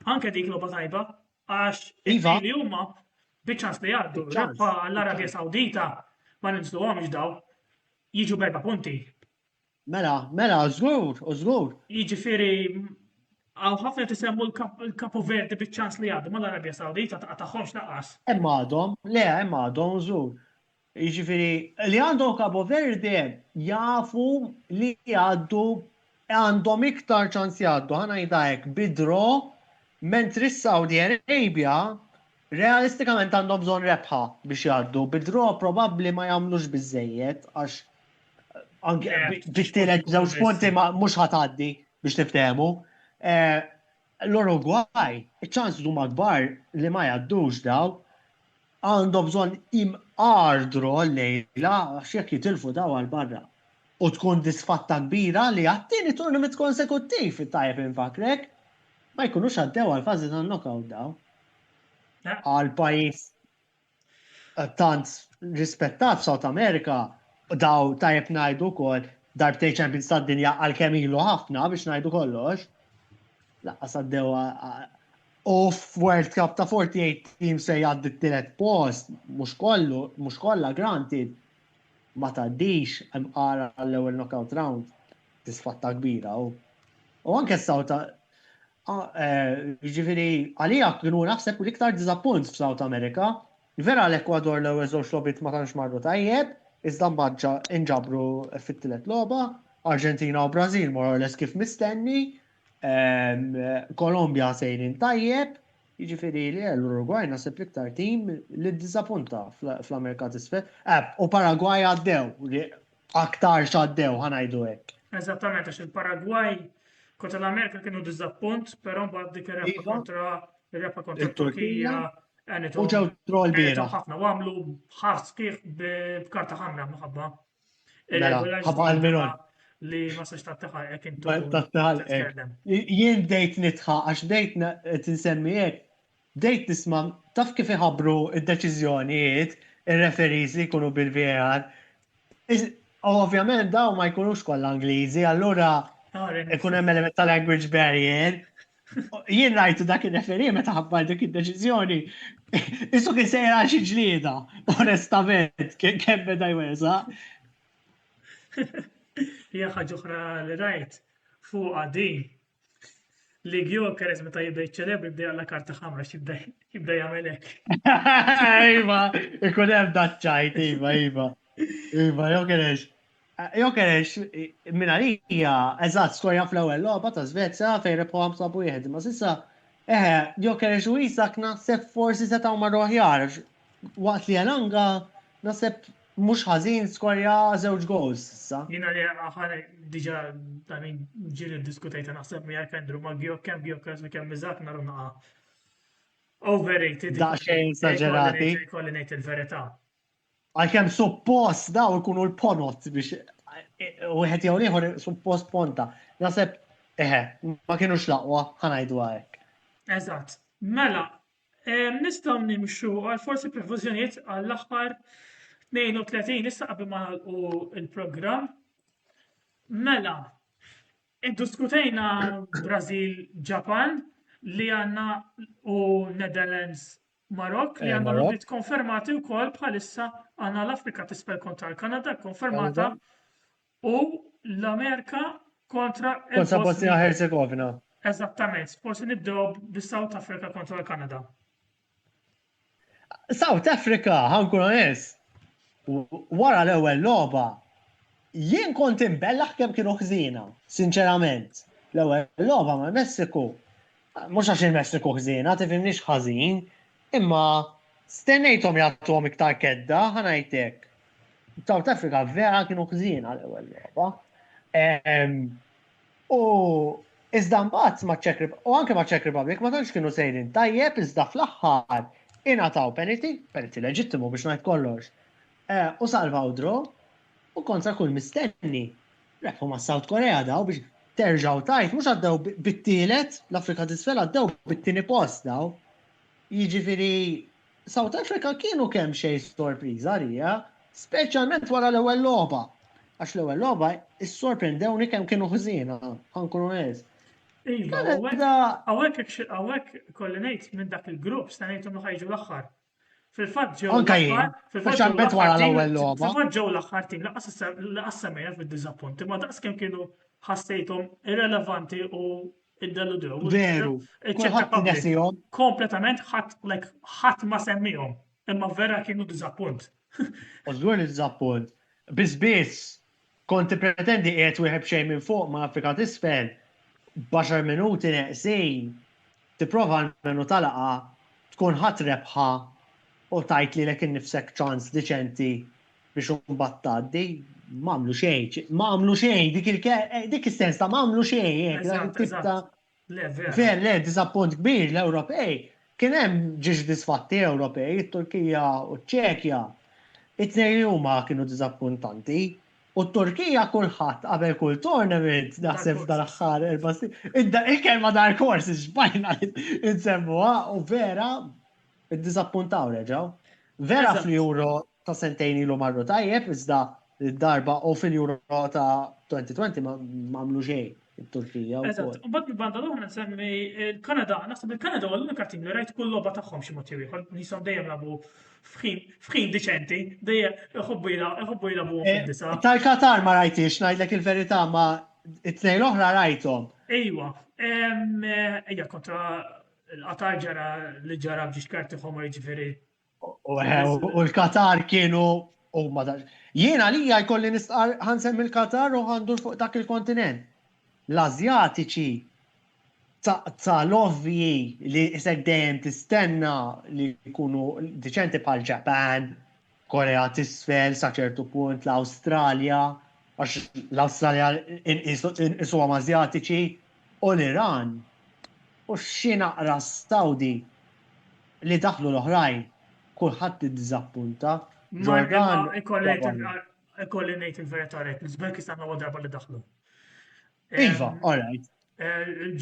S2: Anke dik
S1: logħba tajba għax iva. li huma biċ-ċans li jgħaddu. L-Arabja Sawdita ma ninżluhomx daw jiġu berba punti Mela,
S2: mela, żgur, u żgur. Jiġifieri
S1: hawn ħafna qed isemmu l-Kapu Verdi biċ-ċans li jgħaddu mal-Arabja Sawdita ma tagħhomx lanqas. Hemm għadhom,
S2: le hemm għadhom żgur. Jiġifieri li għandhom Kapu Verdi jafu li jgħaddu għandhom iktar ċans jgħaddu, ħa ngħidha hekk, bi draw, mentri s-Saudi Arabia Realistikament għandhom bżonn rebħa biex jgħaddu, bi draw probabbli ma jagħmlux biżżejjed għax bit-tielet żewġ punti mhux ħa tgħaddi biex niftehmu. Eh, L-Urugwaj, iċ-ċans huma kbar li ma jgħaddux daw għandhom bżonn imqardru l-lejla għax jekk jitilfu daw għal barra. U tkun disfatta kbira li għattini turnament konsekuttiv it-tajb infakrek ma jkunux għaddew għal fażi tan-knockout daw. Għal pajjiż eh, tant rispettat South America daw tajjeb ngħidu wkoll darbtej Champions tad-dinja għal kemm ilu ħafna biex ngħidu kollox. Laqqas għaddew u f'World Cup ta' 48 team se jgħaddi t-tielet post, mhux kollu, mhux kollha granted, ma tgħaddix hemm qara għall-ewwel knockout round. Tisfatta kbira u. U anke s-sawta Jiġifieri għalija kien hu naħseb l-iktar diżappunt f'South America. Vera l-Ekwador l-ewwel żewġ logħbiet ma tantx marru tajjeb, iżda mbagħad inġabru fit-tielet logħba. Arġentina u Brażil more or less kif mistenni. Kolombja sejrin tajjeb. Jiġifieri le, l-Urugwaj naħseb l-iktar tim li ddiżappunta fl-Amerika t'Isfel. U Paragwaj għaddew, aktarx għaddew ħa ngħidu hekk. Eżattament għax
S1: il-Paragwaj kontra l-Amerika kienu diżappunt, però mbagħad dik ir-rebħa Iva. kontra ir-rebħa kontra Turkija, U ġew
S2: troll bira. Ħafna u għamlu
S1: ħar sħiħ b'karta ħamra mħabba. Mela,
S2: ħabba għal-minon. Li ma sax
S1: tattaħal ek intu.
S2: Jien bdejt nitħa, għax bdejt tinsemmi hekk, Bdejt nisma' taf kif iħabbru d-deċiżjonijiet ir-referees li jkunu bil-VAR? U ovvjament dawn ma jkunux kollha Ingliżi, allura ikun hemm element ta' language barrier. Jien rajtu dak ir-referee meta ħabbar dik id-deċiżjoni, qisu kien sejjer għal xi ġlieda, onestament, kemm beda jweżaq.
S1: Hija ħaġa oħra li rajt fuqha din Li Gjokeres meta jibda jiċċelebri jibda jalla karta ħamra xibda jibda jagħmel hekk. Iva,
S2: ikun hemm daċċajt, iva, iva. Iva, Gjokeres. Gjokeres minn għalija eżatt skorja fl-ewwel logħba ta' Svezja fejn rebħu 5 wieħed, ma sissa eħe, Gjokeres u Isak naħseb forsi setgħu marru aħjar Waqt li Elanga naħseb mhux ħażin skorja żewġ goals issa. Jiena li aħħar
S1: diġà ta' min ġieli ddiskutejta naħseb miegħek Andrew ma' Gjok kemm Gjokas u kemm Iżak naru naqa' overrated. Daqsxejn
S2: esaġerati. Kolli ngħid il-verità.
S1: Għalkemm
S2: suppost daw ikunu l-ponot biex wieħed jew ieħor suppost ponta. Naħseb eħe, ma kienux laqwa ħanajdu hekk. Eżatt.
S1: Mela, Nistgħu nimxu għal forsi prefużjonijiet għall-aħħar 32 issa qabel ma nagħlqu il-programm. Mela, iddiskutejna Brażil Ġapan li għandna u Netherlands Marok li eh, għandna l konfermati wkoll bħalissa għandna l-Afrika tisfel kontra l-Kanada konfermata u l-Amerika kontra Kontra Bosnia
S2: Herzegovina. Eżattament,
S1: forsi nibdew bis-South Africa kontra l-Kanada.
S2: South Africa, ħankun onest, wara l-ewwel logħba jien kont imbellaħ kemm kienu ħżiena, sinċerament. L-ewwel logħba mal-Messiku, mhux għax il-Messiku ħżiena, tifhimniex ħażin, imma stennejthom jagħtuhom iktar kedda, ħanajtek. South Africa vera kienu ħżiena l-ewwel logħba. U iżda mbagħad ma' Czech u anke ma' Czech Republic ma tantx kienu sejrin tajjeb iżda fl-aħħar ingħataw penalty, penalty leġittimu biex ngħid kollox. Eh, u salvaw draw u kontra kull mistenni. Rebħu ma' South Korea daw biex terġaw tajt, mhux għaddew bit-tielet, l-Afrika t'isfel għaddew bit-tieni post daw. Jiġifieri South Africa kienu kemxejn sorpriża għalija, speċjalment wara l-ewwel logħba. Għax l-ewwel logħba issorprendewni kemm kienu ħżiena, ħankun onest.
S1: Iva, għawek kolli nejt minn dak il-grupp, sta nejt unnu ħajġu l-axħar. Fil-fat ġew. Anka jien. Fil-fat
S2: wara l-ewwel logħba. Fil-fat ġew l-axħar tim
S1: laqas semmejna fid-diżappunti, ma daqs kemm kienu ħassejthom irrelevanti u Id-deludew. Veru.
S2: Kulħadd nesihom. Kompletament ħadd
S1: like ħadd ma semmihom. Imma vera kienu diżappunt. U żgur
S2: li diżappunt. Biss biss kont pretendi qiegħed wieħed b'xejn minn fuq ma' Afrika t'isfel b'għaxar minuti neqsin tipprova almenu talaqha tkun ħadt rebħa u tgħid lilek innifsek ċans diċenti biex imbagħad tgħaddi, ma għamlu xejn, ma għamlu xejn, dik il eh, dik is-sens ta' ma għamlu xejn, eh, Ver, le, disappunt kbir l-Ewropej. Kien hemm ġiex disfatti Ewropej, it-Turkija u ċ-Ċekja. It-tnejn li huma kienu disappuntanti. U t-Turkija kulħadd qabel kull tournament naħseb dal-aħħar erba' Il-kelma dar kors xbajna insemmuha u vera id-disappuntaw reġgħu. Vera fl-Euro ta' sentejn ilu marru tajjeb iżda darba u fil-Euro ta' 2020 ma għamlu xejn it-Turkija. Eżatt, u bad banda
S1: l-oħra nsemmi il-Kanada, naħseb il-Kanada huwa l-unika tim li rajt kull logħba tagħhom xi mod jew ieħor, jisom dejjem labu f'ħin diċenti, dejjem iħobbu iħobbu jilagħbu eh, fid-disa. Tal-Katar ma rajtix,
S2: ngħidlek il-verità ma it-tnejn l-oħra rajthom. Ejwa,
S1: eh, ejja kontra l-Qatar ġara li ġara biex karti ħomor jiġifieri
S2: U l-Katar kienu u ma dax. Jien għalija jkolli nistqar ħansem il-Katar u għandur fuq dak il-kontinent. L-Azjatiċi ta' l-ovvi li isek dejjem tistenna li jkunu diċenti bħal Ġapan, Korea tisfel, sa ċertu punt l-Awstralja, għax l-Awstralja inqisu għam Azjatiċi, u l-Iran, u xi naqra s-Saudi. Li daħlu l-oħrajn kulħadd iddiżappunta. Ġordan Cavallo.
S1: Ikolli ngħid il-verità rajt l-Uzbekistan l-ewwel darba li daħlu. Iva,
S2: all right.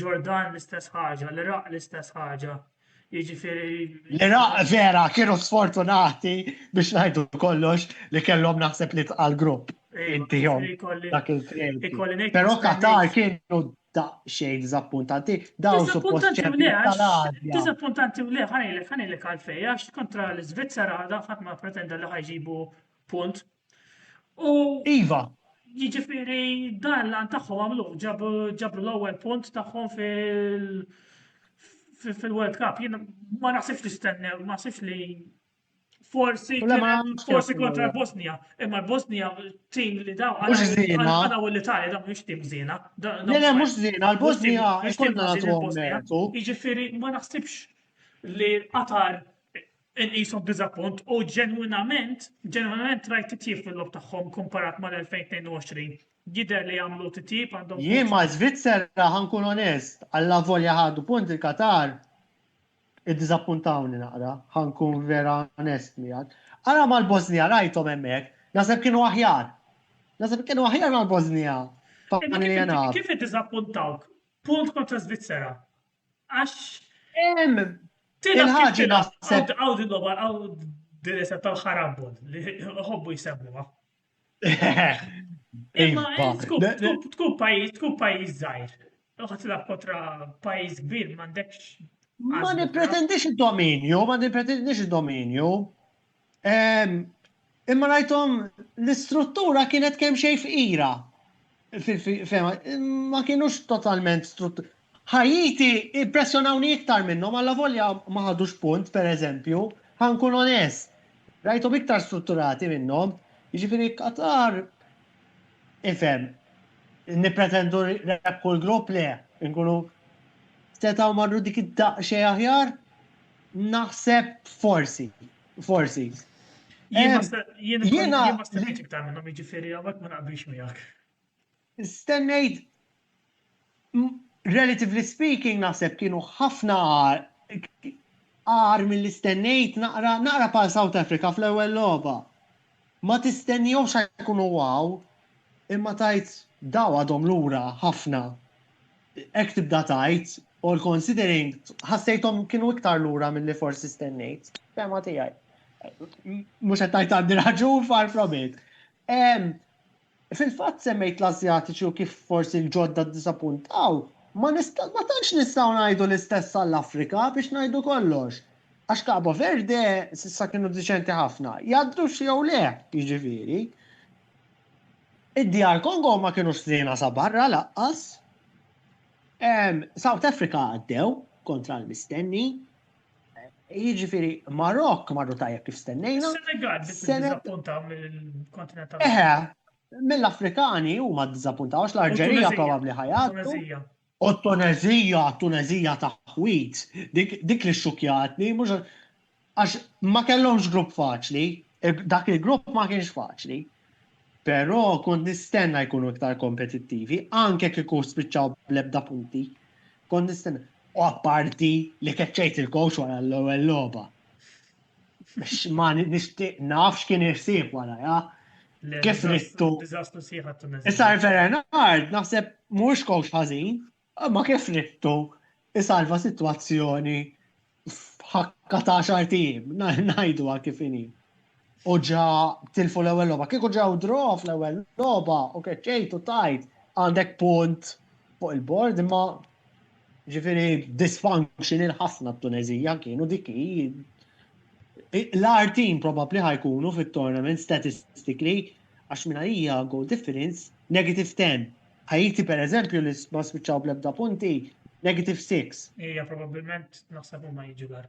S2: Ġordan
S1: l-istess ħaġa, l-Iraq l-istess ħaġa. Jiġifieri. L-Iraq vera
S2: kienu sfortunati biex ngħidu kollox li kellhom naħseb li tqal grupp. Iddihom dak il-kredit. Però Qatar kienu daqsxejn diżappuntanti, dawn suppost tal-Azja.
S1: Diżappuntanti u le, ħanejlek, ħanejlek għalfej, għax kontra l-Iżvizzera għadha ħadd ma pretenda li ħajġibu punt. U
S2: Iva. Jiġifieri
S1: dan l-għan tagħhom għamlu, ġabru l-ewwel punt tagħhom fil- fil-World Cup, jien ma naħsibx li stennew, ma naħsibx li Forsi forsi kontra l-Bosnija, imma l-Bosnija tim li daw għana u l-Italja daw mhux tim żiena. Le le mhux
S2: żiena, l-Bosnija mhux tim żiena. Jiġifieri ma
S1: naħsibx li Qatar inqishom diżappunt u ġenwinament, ġenwinament rajt titjib fil-lob tagħhom komparat mal-2022. Jidher li jagħmlu titjib għandhom. Jien ma' Svizzera
S2: ħankun onest, alla volja ħadu punt il-Qatar. Iddiżappuntawni naqra, ħa nkun vera onest miegħek. Ara mal-Bożnija rajthom hemmhekk, naħseb kienu aħjar. Naħseb kienu aħjar mal-Bożnija. Kif
S1: iddiżappuntawk? Punt kontra Svizzera. Għax. Hemm. Il-ħaġa
S2: naħseb. Għaw din logħba, għaw
S1: din tal-ħarabol li ħobbu jsemmuha. Imma tkun pajjiż, tkun pajjiż żgħir. Uħat la kontra pajjiż kbir m'għandekx. Ma
S2: nippretendix id-dominju, ma nippretendix id-dominju. Imma rajtom l-istruttura kienet kemm xejn fqira. Fema, ma kienux totalment struttur. Ħajiti impressjonawni iktar minnhom għalla volja ma ħadux punt, per eżempju, ħankun onest. Rajtom iktar strutturati minnhom, jiġifieri Qatar ifhem nippretendu rep kull grupp le, nkunu setgħu marru dik id-daqxej aħjar, naħseb forsi. Forsi.
S1: Jiena stennejt iktar minnhom jiġifieri hawnhekk ma naqbilx miegħek.
S2: Stennejt relatively speaking naħseb kienu ħafna għar mill stennejt naqra naqra pa' South Africa fl-ewwel logħba. Ma tistennihomx jkunu wow imma tajt daw għadhom lura ħafna. Hekk tibda tgħid, all considering, ħassejthom kienu iktar lura milli forsi stennejt. Fema tiegħi. Mhux qed tgħid għandi raġun far from it. Fil-fatt semmejt l-Asjatiċi u kif forsi l-ġodda disappuntaw, ma tantx nistgħu ngħidu l-istess għall-Afrika biex ngħidu kollox. Għax Cabo Verde s'issa kienu diċenti ħafna. Jgħaddux jew le, jiġifieri. Id-djar Kongo ma kinux ħżiena sa barra laqqas. South Africa għaddew kontra l-mistenni. Jiġifieri Marokk marru tajjeb kif stennejna. Senegal
S1: diżappunta mill-kontinent Eħe,
S2: mill-Afrikani huma ddiżappuntaw għax l-Arġerija probabbli ħajgħaddu. O t-Tuneżija, t-Tuneżija ta' ħwit, dik, dik li xxukkjatni, mhux għax ma kellhomx grupp faċli, dak il-grupp ma kienx faċli, però kont nistenna jkunu iktar kompetittivi, anke kieku spiċċaw bl-ebda punti. Kont nistenna, u apparti li keċċejt il-coach wara l-ewwel logħba. Ma nixtieq naf x'kien irsib wara, ja? Kif rittu? Diżastru sieħa t-Tunezija.
S1: Issa Bernard
S2: naħseb mhux kowx ħażin, ma kif rittu isalva sitwazzjoni ħakka ta' xartijiem, ngħidu għal kif inhi. U ġa tilfu l-ewwel logħba. Kieku ġew drof l-ewwel logħba u keċċejt u tajt għandek punt fuq il-bord imma Ġifieri dysfunctional ħafna t-Tuneżija kienu dik l-art team probabbli ħajkunu fit-tournament statistically għax minn hija goal difference negative 10. Ħajti pereżempju li ma spiċċaw bl-ebda punti negative 6. Hija probabbilment
S1: naħseb huma jiġu dar.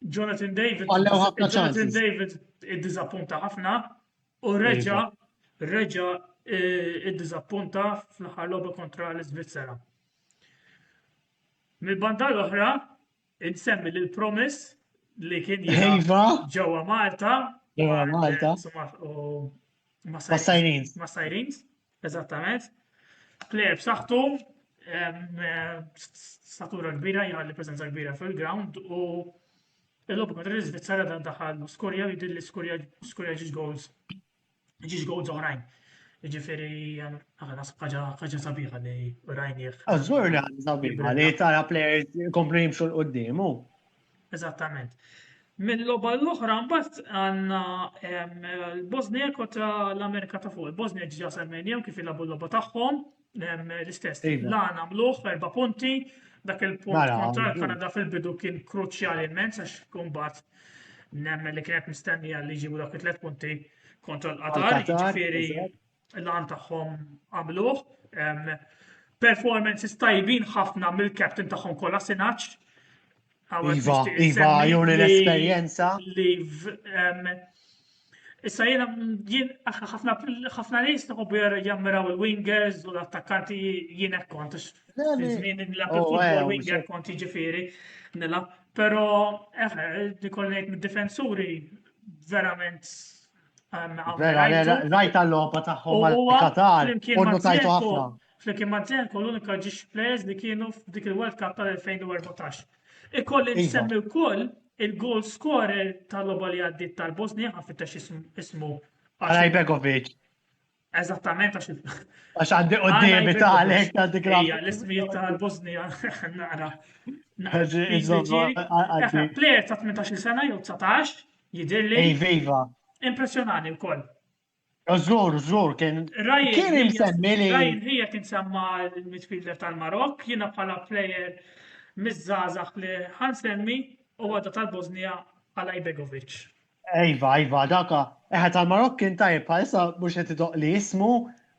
S1: Jonathan David. Għallew ħafna Jonathan David id-dizappunta ħafna u reġa reġa eh, id-dizappunta fl-ħar logħba kontra l-Svizzera. Mill-banda l-oħra, insemmi l promis li kien ġewwa Malta. Ġewwa Malta. Ma sajrins. Ma sajrins. Eżattament. Player b'saħħtu statura kbira jgħalli preżenza kbira fil-ground u l-logħbu kontra l-Iżvizzera dan daħal skorja u jidilli skorja skorja ġiġ goals ġiġ goals oħrajn. Ġifieri aħna ħaġa ħaġa sabiħa li rajnieh. Azzur li ħaġa
S2: sabiħa li tara players komplu jimxu l-quddiemu. Eżattament. Mill-logħba
S1: l-oħra mbagħad għandna l-Bosnia kontra l-Amerika ta' fuq. Il-Bosnia ġiġa semmejnihom kif ilabu l-logħba tagħhom l-istess. Iva. La nagħmluh erba' punti, dak il-punt mela, kontra l-Kanada fil-bidu kien kruċjali immens għax kumbat nemmen li kienet mistennija li ġibu dak it-tlet punti kontra l-Qatar, ġifieri l-għan tagħhom għamluh. Performances tajbin ħafna mill-captain tagħhom kollha sinaċ. Iva, iva,
S2: juri l-esperjenza.
S1: Issa jena jien ħafna nies nħobbu jammiraw il-wingers u l-attakkanti jien hekk kont. Żmien nilgħab oh, il-futbol eh, winger kont jiġifieri nilgħab. Però eh, eh, nikolli ngħid mid-difensuri verament Vera, vera,
S2: rajt għall-lopa tagħhom mal-Qatar, u notajtu ħafna. Flimkien ma' Zenko
S1: l-unika ġiex players li kienu f'dik il-World Cup tal-2014. Ikolli iva. nsemmi wkoll il-goal scorer tal-loba li għaddit tal-Bosnia, għafit ismu. Għalaj Begovic. Eżattament għax Għax
S2: għandi qoddimi ta' għalek ta' dik Ija, l-ismijiet ta' l-Bosnija,
S1: naqra. Player ta' 18 sena jew 19, jidir li. Viva.
S2: Impressionani
S1: wkoll. Użur,
S2: użur, kien. Kien imsemmi li. Ryan hija kien semma
S1: l-midfielder tal-Marok, jiena bħala player mizzazax li ħansemmi u għadda tal-Bosnija għal Ibegovic. Iva,
S2: iva, dak eħe tal-Marokkin tajjeb bħalissa mhux qed idoq li jismu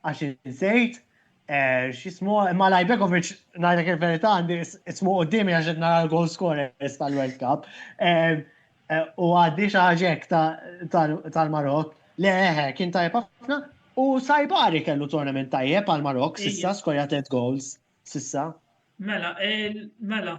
S2: għax insejt eh, x'ismu imma Lajbekovic ngħidlek il-verità għandi ismu qudiemi għax qed nara l-goal scorers tal-World Cup. Eh, eh, u għaddi xi ħaġek tal-Marok. Le eħe, kien tajjeb ħafna u Sajbari kellu tournament tajjeb għal-Marok sissa skorja tliet goals sissa. Mela, mela.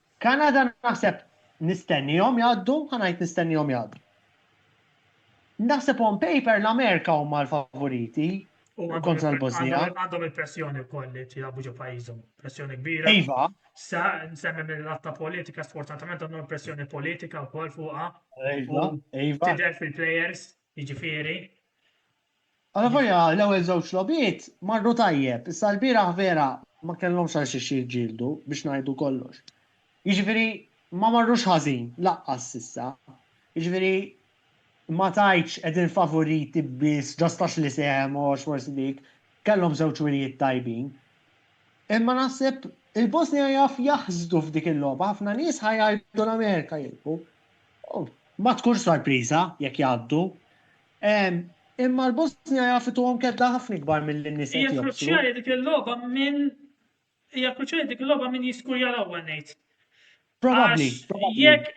S2: Kanada naħseb nistennihom jgħaddu, ħa ngħid nistennihom jgħaddu. Naħseb on paper l-Amerika huma l-favoriti kontra l-Bosnija. Għandhom il-pressjoni
S1: wkoll li jilagħbu ġo pajjiżhom, pressjoni kbira. Iva. Sa
S2: nsemmi
S1: mill-latta politika, sfortunatament għandhom pressjoni politika wkoll fuqha. Iva, iva.
S2: Tidher fil-players
S1: Jiġifieri.
S2: Alla volja l-ewwel żewġ logħbiet marru tajjeb, issa lbieraħ vera ma kellhomx għal xiex jiġġieldu biex ngħidu kollox. Jiġifieri ma marrux ħażin laqqas s'issa. Jiġifieri ma tgħidx qegħdin favoriti biss ġast għax li sehem u għax forsi dik, kellhom żewġ wirjiet tajbin. Imma naħseb il-Bosnja jaf jaħsdu f'dik il-logħba, ħafna nies ħa jgħidu l-Amerika jilbu, Ma tkunx sorpriża jekk jgħaddu. Imma l-Bosnja jaf ituhom kedda ħafna ikbar milli n-nies qed Hija kruċjali dik
S1: il-logħba minn hija kruċjali dik il-logħba minn jiskurja l-ewwel ngħid. Probabbli.
S2: Jekk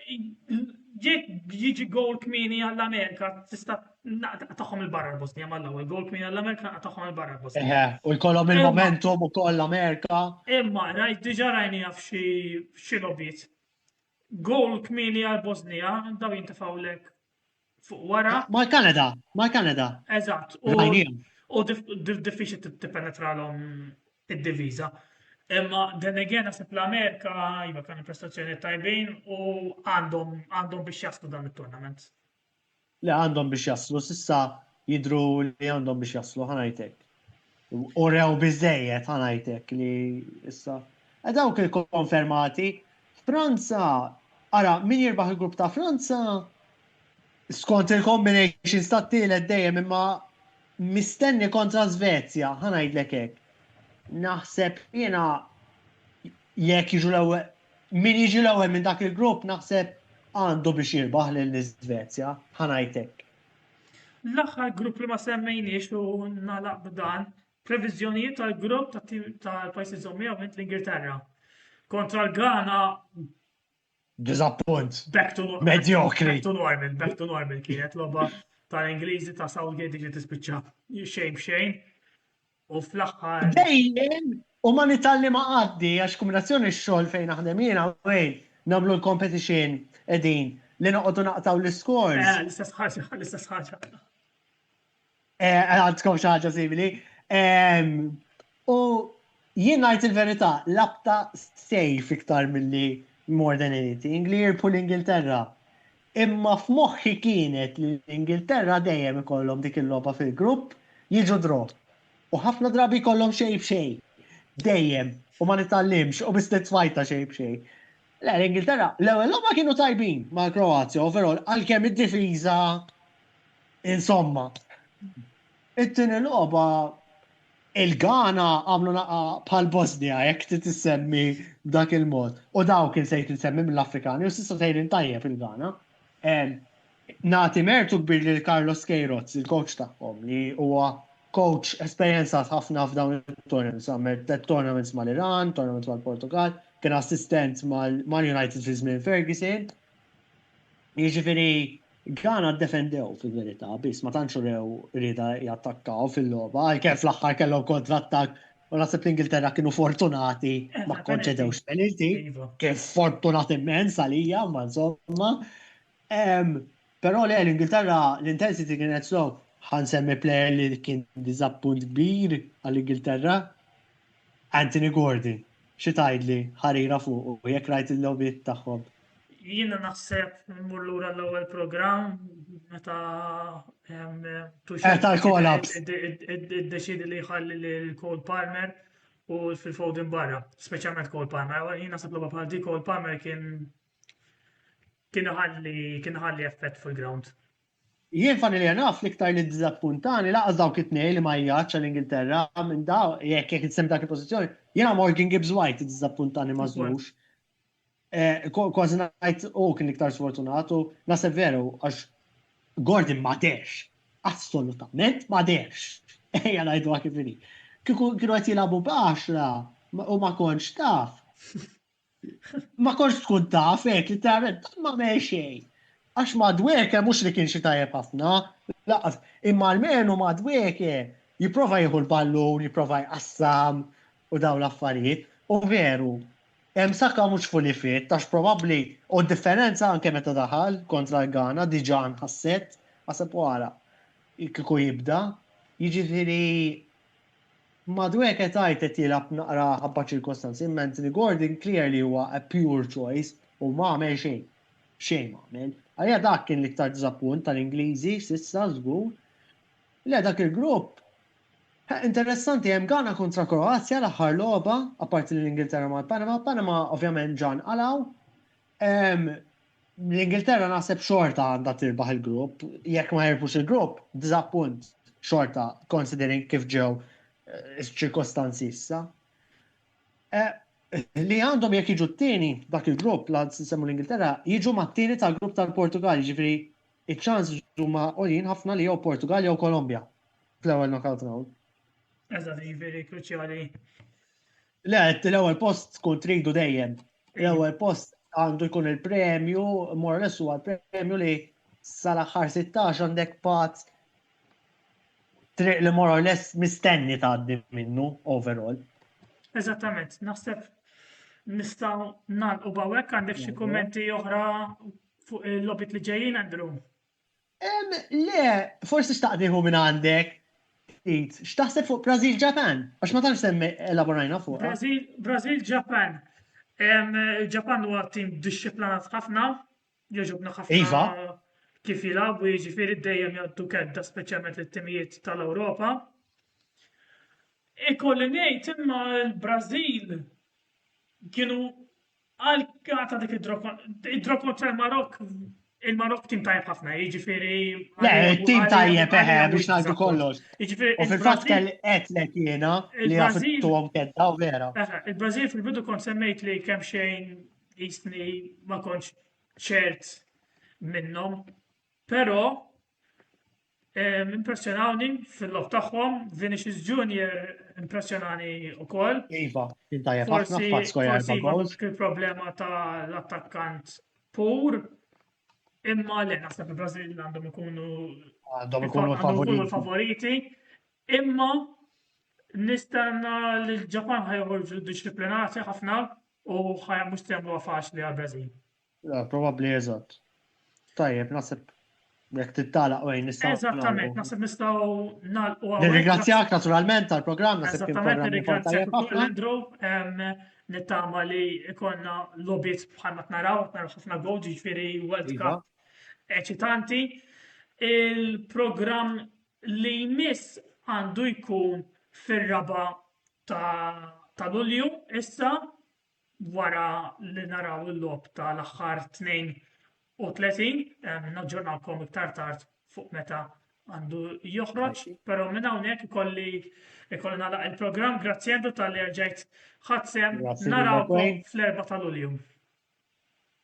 S1: jekk jiġi gowl kmieni għall-Amerika tista' tagħhom il-barra l-Bosnija mal-ewwel gowl kmieni għall-Amerika tagħhom il-barra l-Bosnija. U jkollhom
S2: il-momentum ukoll l-Amerika. Imma rajt
S1: diġà rajni jaf xi xi logħbiet. Goal kmieni għal Bosnija, daw jintefgħu lek fuq wara. Ma' Kanada, ma' Kanada.
S2: Eżatt.
S1: U diffiċi t-penetra l-om id-diviza. Imma dan again għasib l-Amerika, jiva kan prestazzjoni tajbin u għandhom biex jaslu dan il-tournament. li
S2: għandhom biex jaslu s'issa jidhru li għandhom biex jaslu ħa ngħid hekk. Urew biżżejjed ħa ngħid hekk li issa. E dawk il-konfermati Franza ara min jirbaħ il-grupp ta' Franza skont il-combinations ta' tielet dejjem imma mistenni kontra Svezja, ħanajdlek hekk. Naħseb jiena jekk jiġu l-ewwel Min jiġi l-ewwel minn dak il-grupp naħseb għandu biex jirbaħ lill-Iżvezja, ħa ngħid hekk.
S1: L-aħħar grupp li ma semmejniex u nagħlaq b'dan, previżjonijiet tal-grupp tal-pajjiż żommija u l-Ingilterra. Kontra l-Ghana Dizappunt.
S2: Back to normal. Mediocre.
S1: Back to normal, back to normal kienet loba tal-Ingliżi ta' Southgate ġiet tispiċċa xejn b'xejn. u fl-aħħar. Dejjem
S2: u ma nitalli ma għaddi għax kombinazzjoni x-xogħol fejn naħdem jien hawn nagħmlu l-competition qegħdin li noqogħdu naqtgħu l-iskors. Eh, l-istess ħaġa,
S1: l-istess ħaġa. Eh,
S2: għandkom xi ħaġa simili. Ehm, u jien ngħid il-verità, labta sejf iktar milli more than anything li jirpu l-Ingilterra. Imma f'moħħi kienet li l-Ingilterra dejjem ikollhom dik il-logħba fil-grupp, jiġu draw. U ħafna drabi jkollhom xejn b'xejn. Dejjem. U ma nitgħallimx, u biss nitfajta xejn b'xejn. Le, l-Ingilterra, l-ewwel logħba kienu tajbin mal-Kroazja overall, għalkemm id-difiża insomma. It-tieni logħba il-Ghana għamlu naqa bħal Bosnia jekk trid issemmi b'dak il-mod. U dawk kien sejt insemmi mill-Afrikani u s'issa sejrin tajjeb il-Ghana. Nagħti mertu kbir lil Carlos Queiroz, il-coach tagħhom, li huwa coach esperjenzat ħafna f'dawn it-tournaments, għamel tliet tournaments mal-Iran, tournament mal-Portugall, kien assistent mal-United fi żmien Ferguson, Jiġifieri Ghana ddefendew fil-verità biss ma tantx rew rieda jattakkaw fil-logħba għalkemm fl-aħħar kellhom kontrattak u naħseb l-Ingilterra kienu fortunati eh, ma konċedewx penalty iva. kien fortunat immens għalija ma insomma. Però le l-Ingilterra l-intensity kienet slow ħansemmi player li kien diżappunt kbir għall-Ingilterra Anthony Gordon, Xi tgħidli ħarira fuqu jekk rajt il-logħbiet tagħhom? Jiena
S1: naħseb immur lura l-ewwel programm meta Tuchel
S2: kolaps iddeċidi
S1: li jħalli lil Cole Palmer u Phil Foden barra, speċjalment Cole Palmer. Jiena naħseb logħba bħal dik Cole Palmer kien kien ħalli kien ħalli effett fil-ground. Jien
S2: funnily enough l-iktar li ddiżappuntani lanqas dawk it-tnejn li ma jgħaddx għall-Ingilterra minn daw jekk jekk insemmi dak il-pożizzjoni, jiena Morgan Gibbs White iddiżappuntani ma żlux. Kważi ngħid hu kien l-iktar sfortunat u naħseb veru għax Gordon ma dehrx. Assolutament ma dehrx. Ejja ngħiduha kif inhi. Kieku kienu qed jilagħbu b'għaxra u ma kontx taf. Ma konx tkun taf, hekk li tara ma me xejn. Għax madweke mhux li kien xi tajjeb ħafna, laqas, imma almenu madweke jipprova jieħu l-ballun, jipprova jqassam u dawn l-affarijiet. U veru, hemm Saka mhux fully fit, għax probabbli u d-differenza anke meta daħal kontra l-Ghana diġà nħasset, aħseb u ara kieku jibda. Jiġifieri Madueke tgħid qed jilgħab naqra ħabba ċirkostanzi imma Anthony Gordon clear li huwa a pure choice u ma għamel xejn. Xejn ma għamel. Għalija dak kien l-iktar diżappunt tal-Ingliżi s'issa żgur. Le dak il-grupp. Ħa interessanti hemm Ghana kontra Kroazja l-aħħar logħba, apparti li l-Ingilterra mal-Panama, Panama ovvjament ġa nqalgħu. L-Ingilterra naħseb xorta għandha tirbaħ il-grupp, jekk ma jirbux il-grupp, diżappunt xorta considering kif ġew eh, iċ-ċirkostanzi issa. Eh, li għandhom jekk jiġu t-tieni dak il-grupp la semmu l-Ingilterra, jiġu ma t-tieni tal-grupp tal-Portugal, ġifri iċ-ċans huma għolin ħafna li jew Portugal jew Kolombja fl-ewwel knockout round. Eżatt,
S1: ġifiri kruċjali
S2: Le, għed l-ewel post tkun tridu dejjem. L-ewel post għandu jkun il-premju, mor l huwa premju li sal-axħar 16 għandek pat triq li mor l mistenni tgħaddi minnu overall. Eżattament,
S1: naħseb nistaw nal u bawek għandek xi kummenti oħra fuq il-lobit li ġejjin, Andrew?
S2: Le, forsi xtaqt nieħu minn għandek ftit. X'taħseb fuq Brazil Japan? Għax ma tantx semmi elaborajna fuq. Brazil, Brazil Japan.
S1: Il-Ġapan huwa tim dixxiplinat ħafna, jogħġobna ħafna iva.
S2: kif
S1: jilagħbu jiġifieri dejjem jgħaddu kedda speċjalment lit-timijiet tal-Ewropa. Ikolli ngħid imma l-Brażil kienu Għal għata dik id-draw kontra l-Marok, il-Marok tim tajjeb ħafna, jiġifieri. Le, tim
S2: tajjeb eħe eh, biex ngħidu kollox. Jiġifieri. U fil-fatt kell qedlek jiena li għafittuhom kedda u vera. Il-Brażil fil-bidu
S1: kont semmejt li kemm xejn jisni ma kontx ċert minnhom, però Impressjonawni fil-lob tagħhom, Vinicius Junior impressjonani wkoll. Iva, il-dajja
S2: ħafna f'Pasko jarba goals. Il-problema
S1: ta' l-attakkant pur imma le naħseb il-Brażil għandhom ikunu għandhom ikunu favoriti. Imma nistanna li l-Ġapan ħajħorġu disciplinati ħafna u ħajja mhux temlu faċli għal-Brażil. Ah, Probabbli
S2: eżatt. Tajjeb, naħseb jekk tittalaq wejn nistgħu. Eżattament, naħseb nistgħu
S1: nagħlqu hawnhekk. Nirringrazzjak naturalment
S2: tal-programm, naħseb kien Eżattament, programm nirringrazzjak tajjeb ukoll
S1: ħafna.
S2: Andrew, em,
S1: nittama li ikonna lobit bħalma t-naraw, naraw ħafna gol, ġifiri World Iva. Cup eċitanti. Il-programm li jmiss għandu jkun fir-raba ta' ta' Lulju, issa, wara li naraw il-logħob tal-aħħar 32, naġġornakom iktar tard fuq meta għandu joħroġ, però minn hawnhekk ikolli ikolli nagħlaq il-programm, grazzi Andrew tal-li rġajt ħadsem, narawkom fl-4 tal-Ulju.